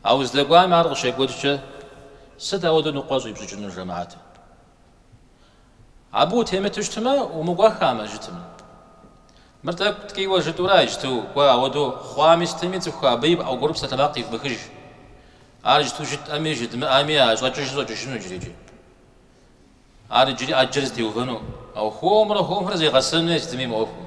а уздэкӏуами ар къыщекӏуэкӏкӏэ, сыт ауэдэу ныкъуэ щӏипщӏыкӏынур жэмаӏэтым? Абы утемыту щытмэ, умыкӏуэхамэ, жытым. Мыр тӏэкӏу ткӏийуэ жытӏура иджту, кӏуэ, ауэду хъуами сытми цӏыху абы аргуэру псалъэмакъ ивмыхыж. Ар иджту жытӏэми, жыдмыӏэми а щӏэкӏыжыр щӏэкӏыжыну иджырикӏи. Ар иджыри ӏэджэр зытеувэну, ауэ хуэмурэ хуэмурэ зегъэсэну сытми мы ӏуэхум.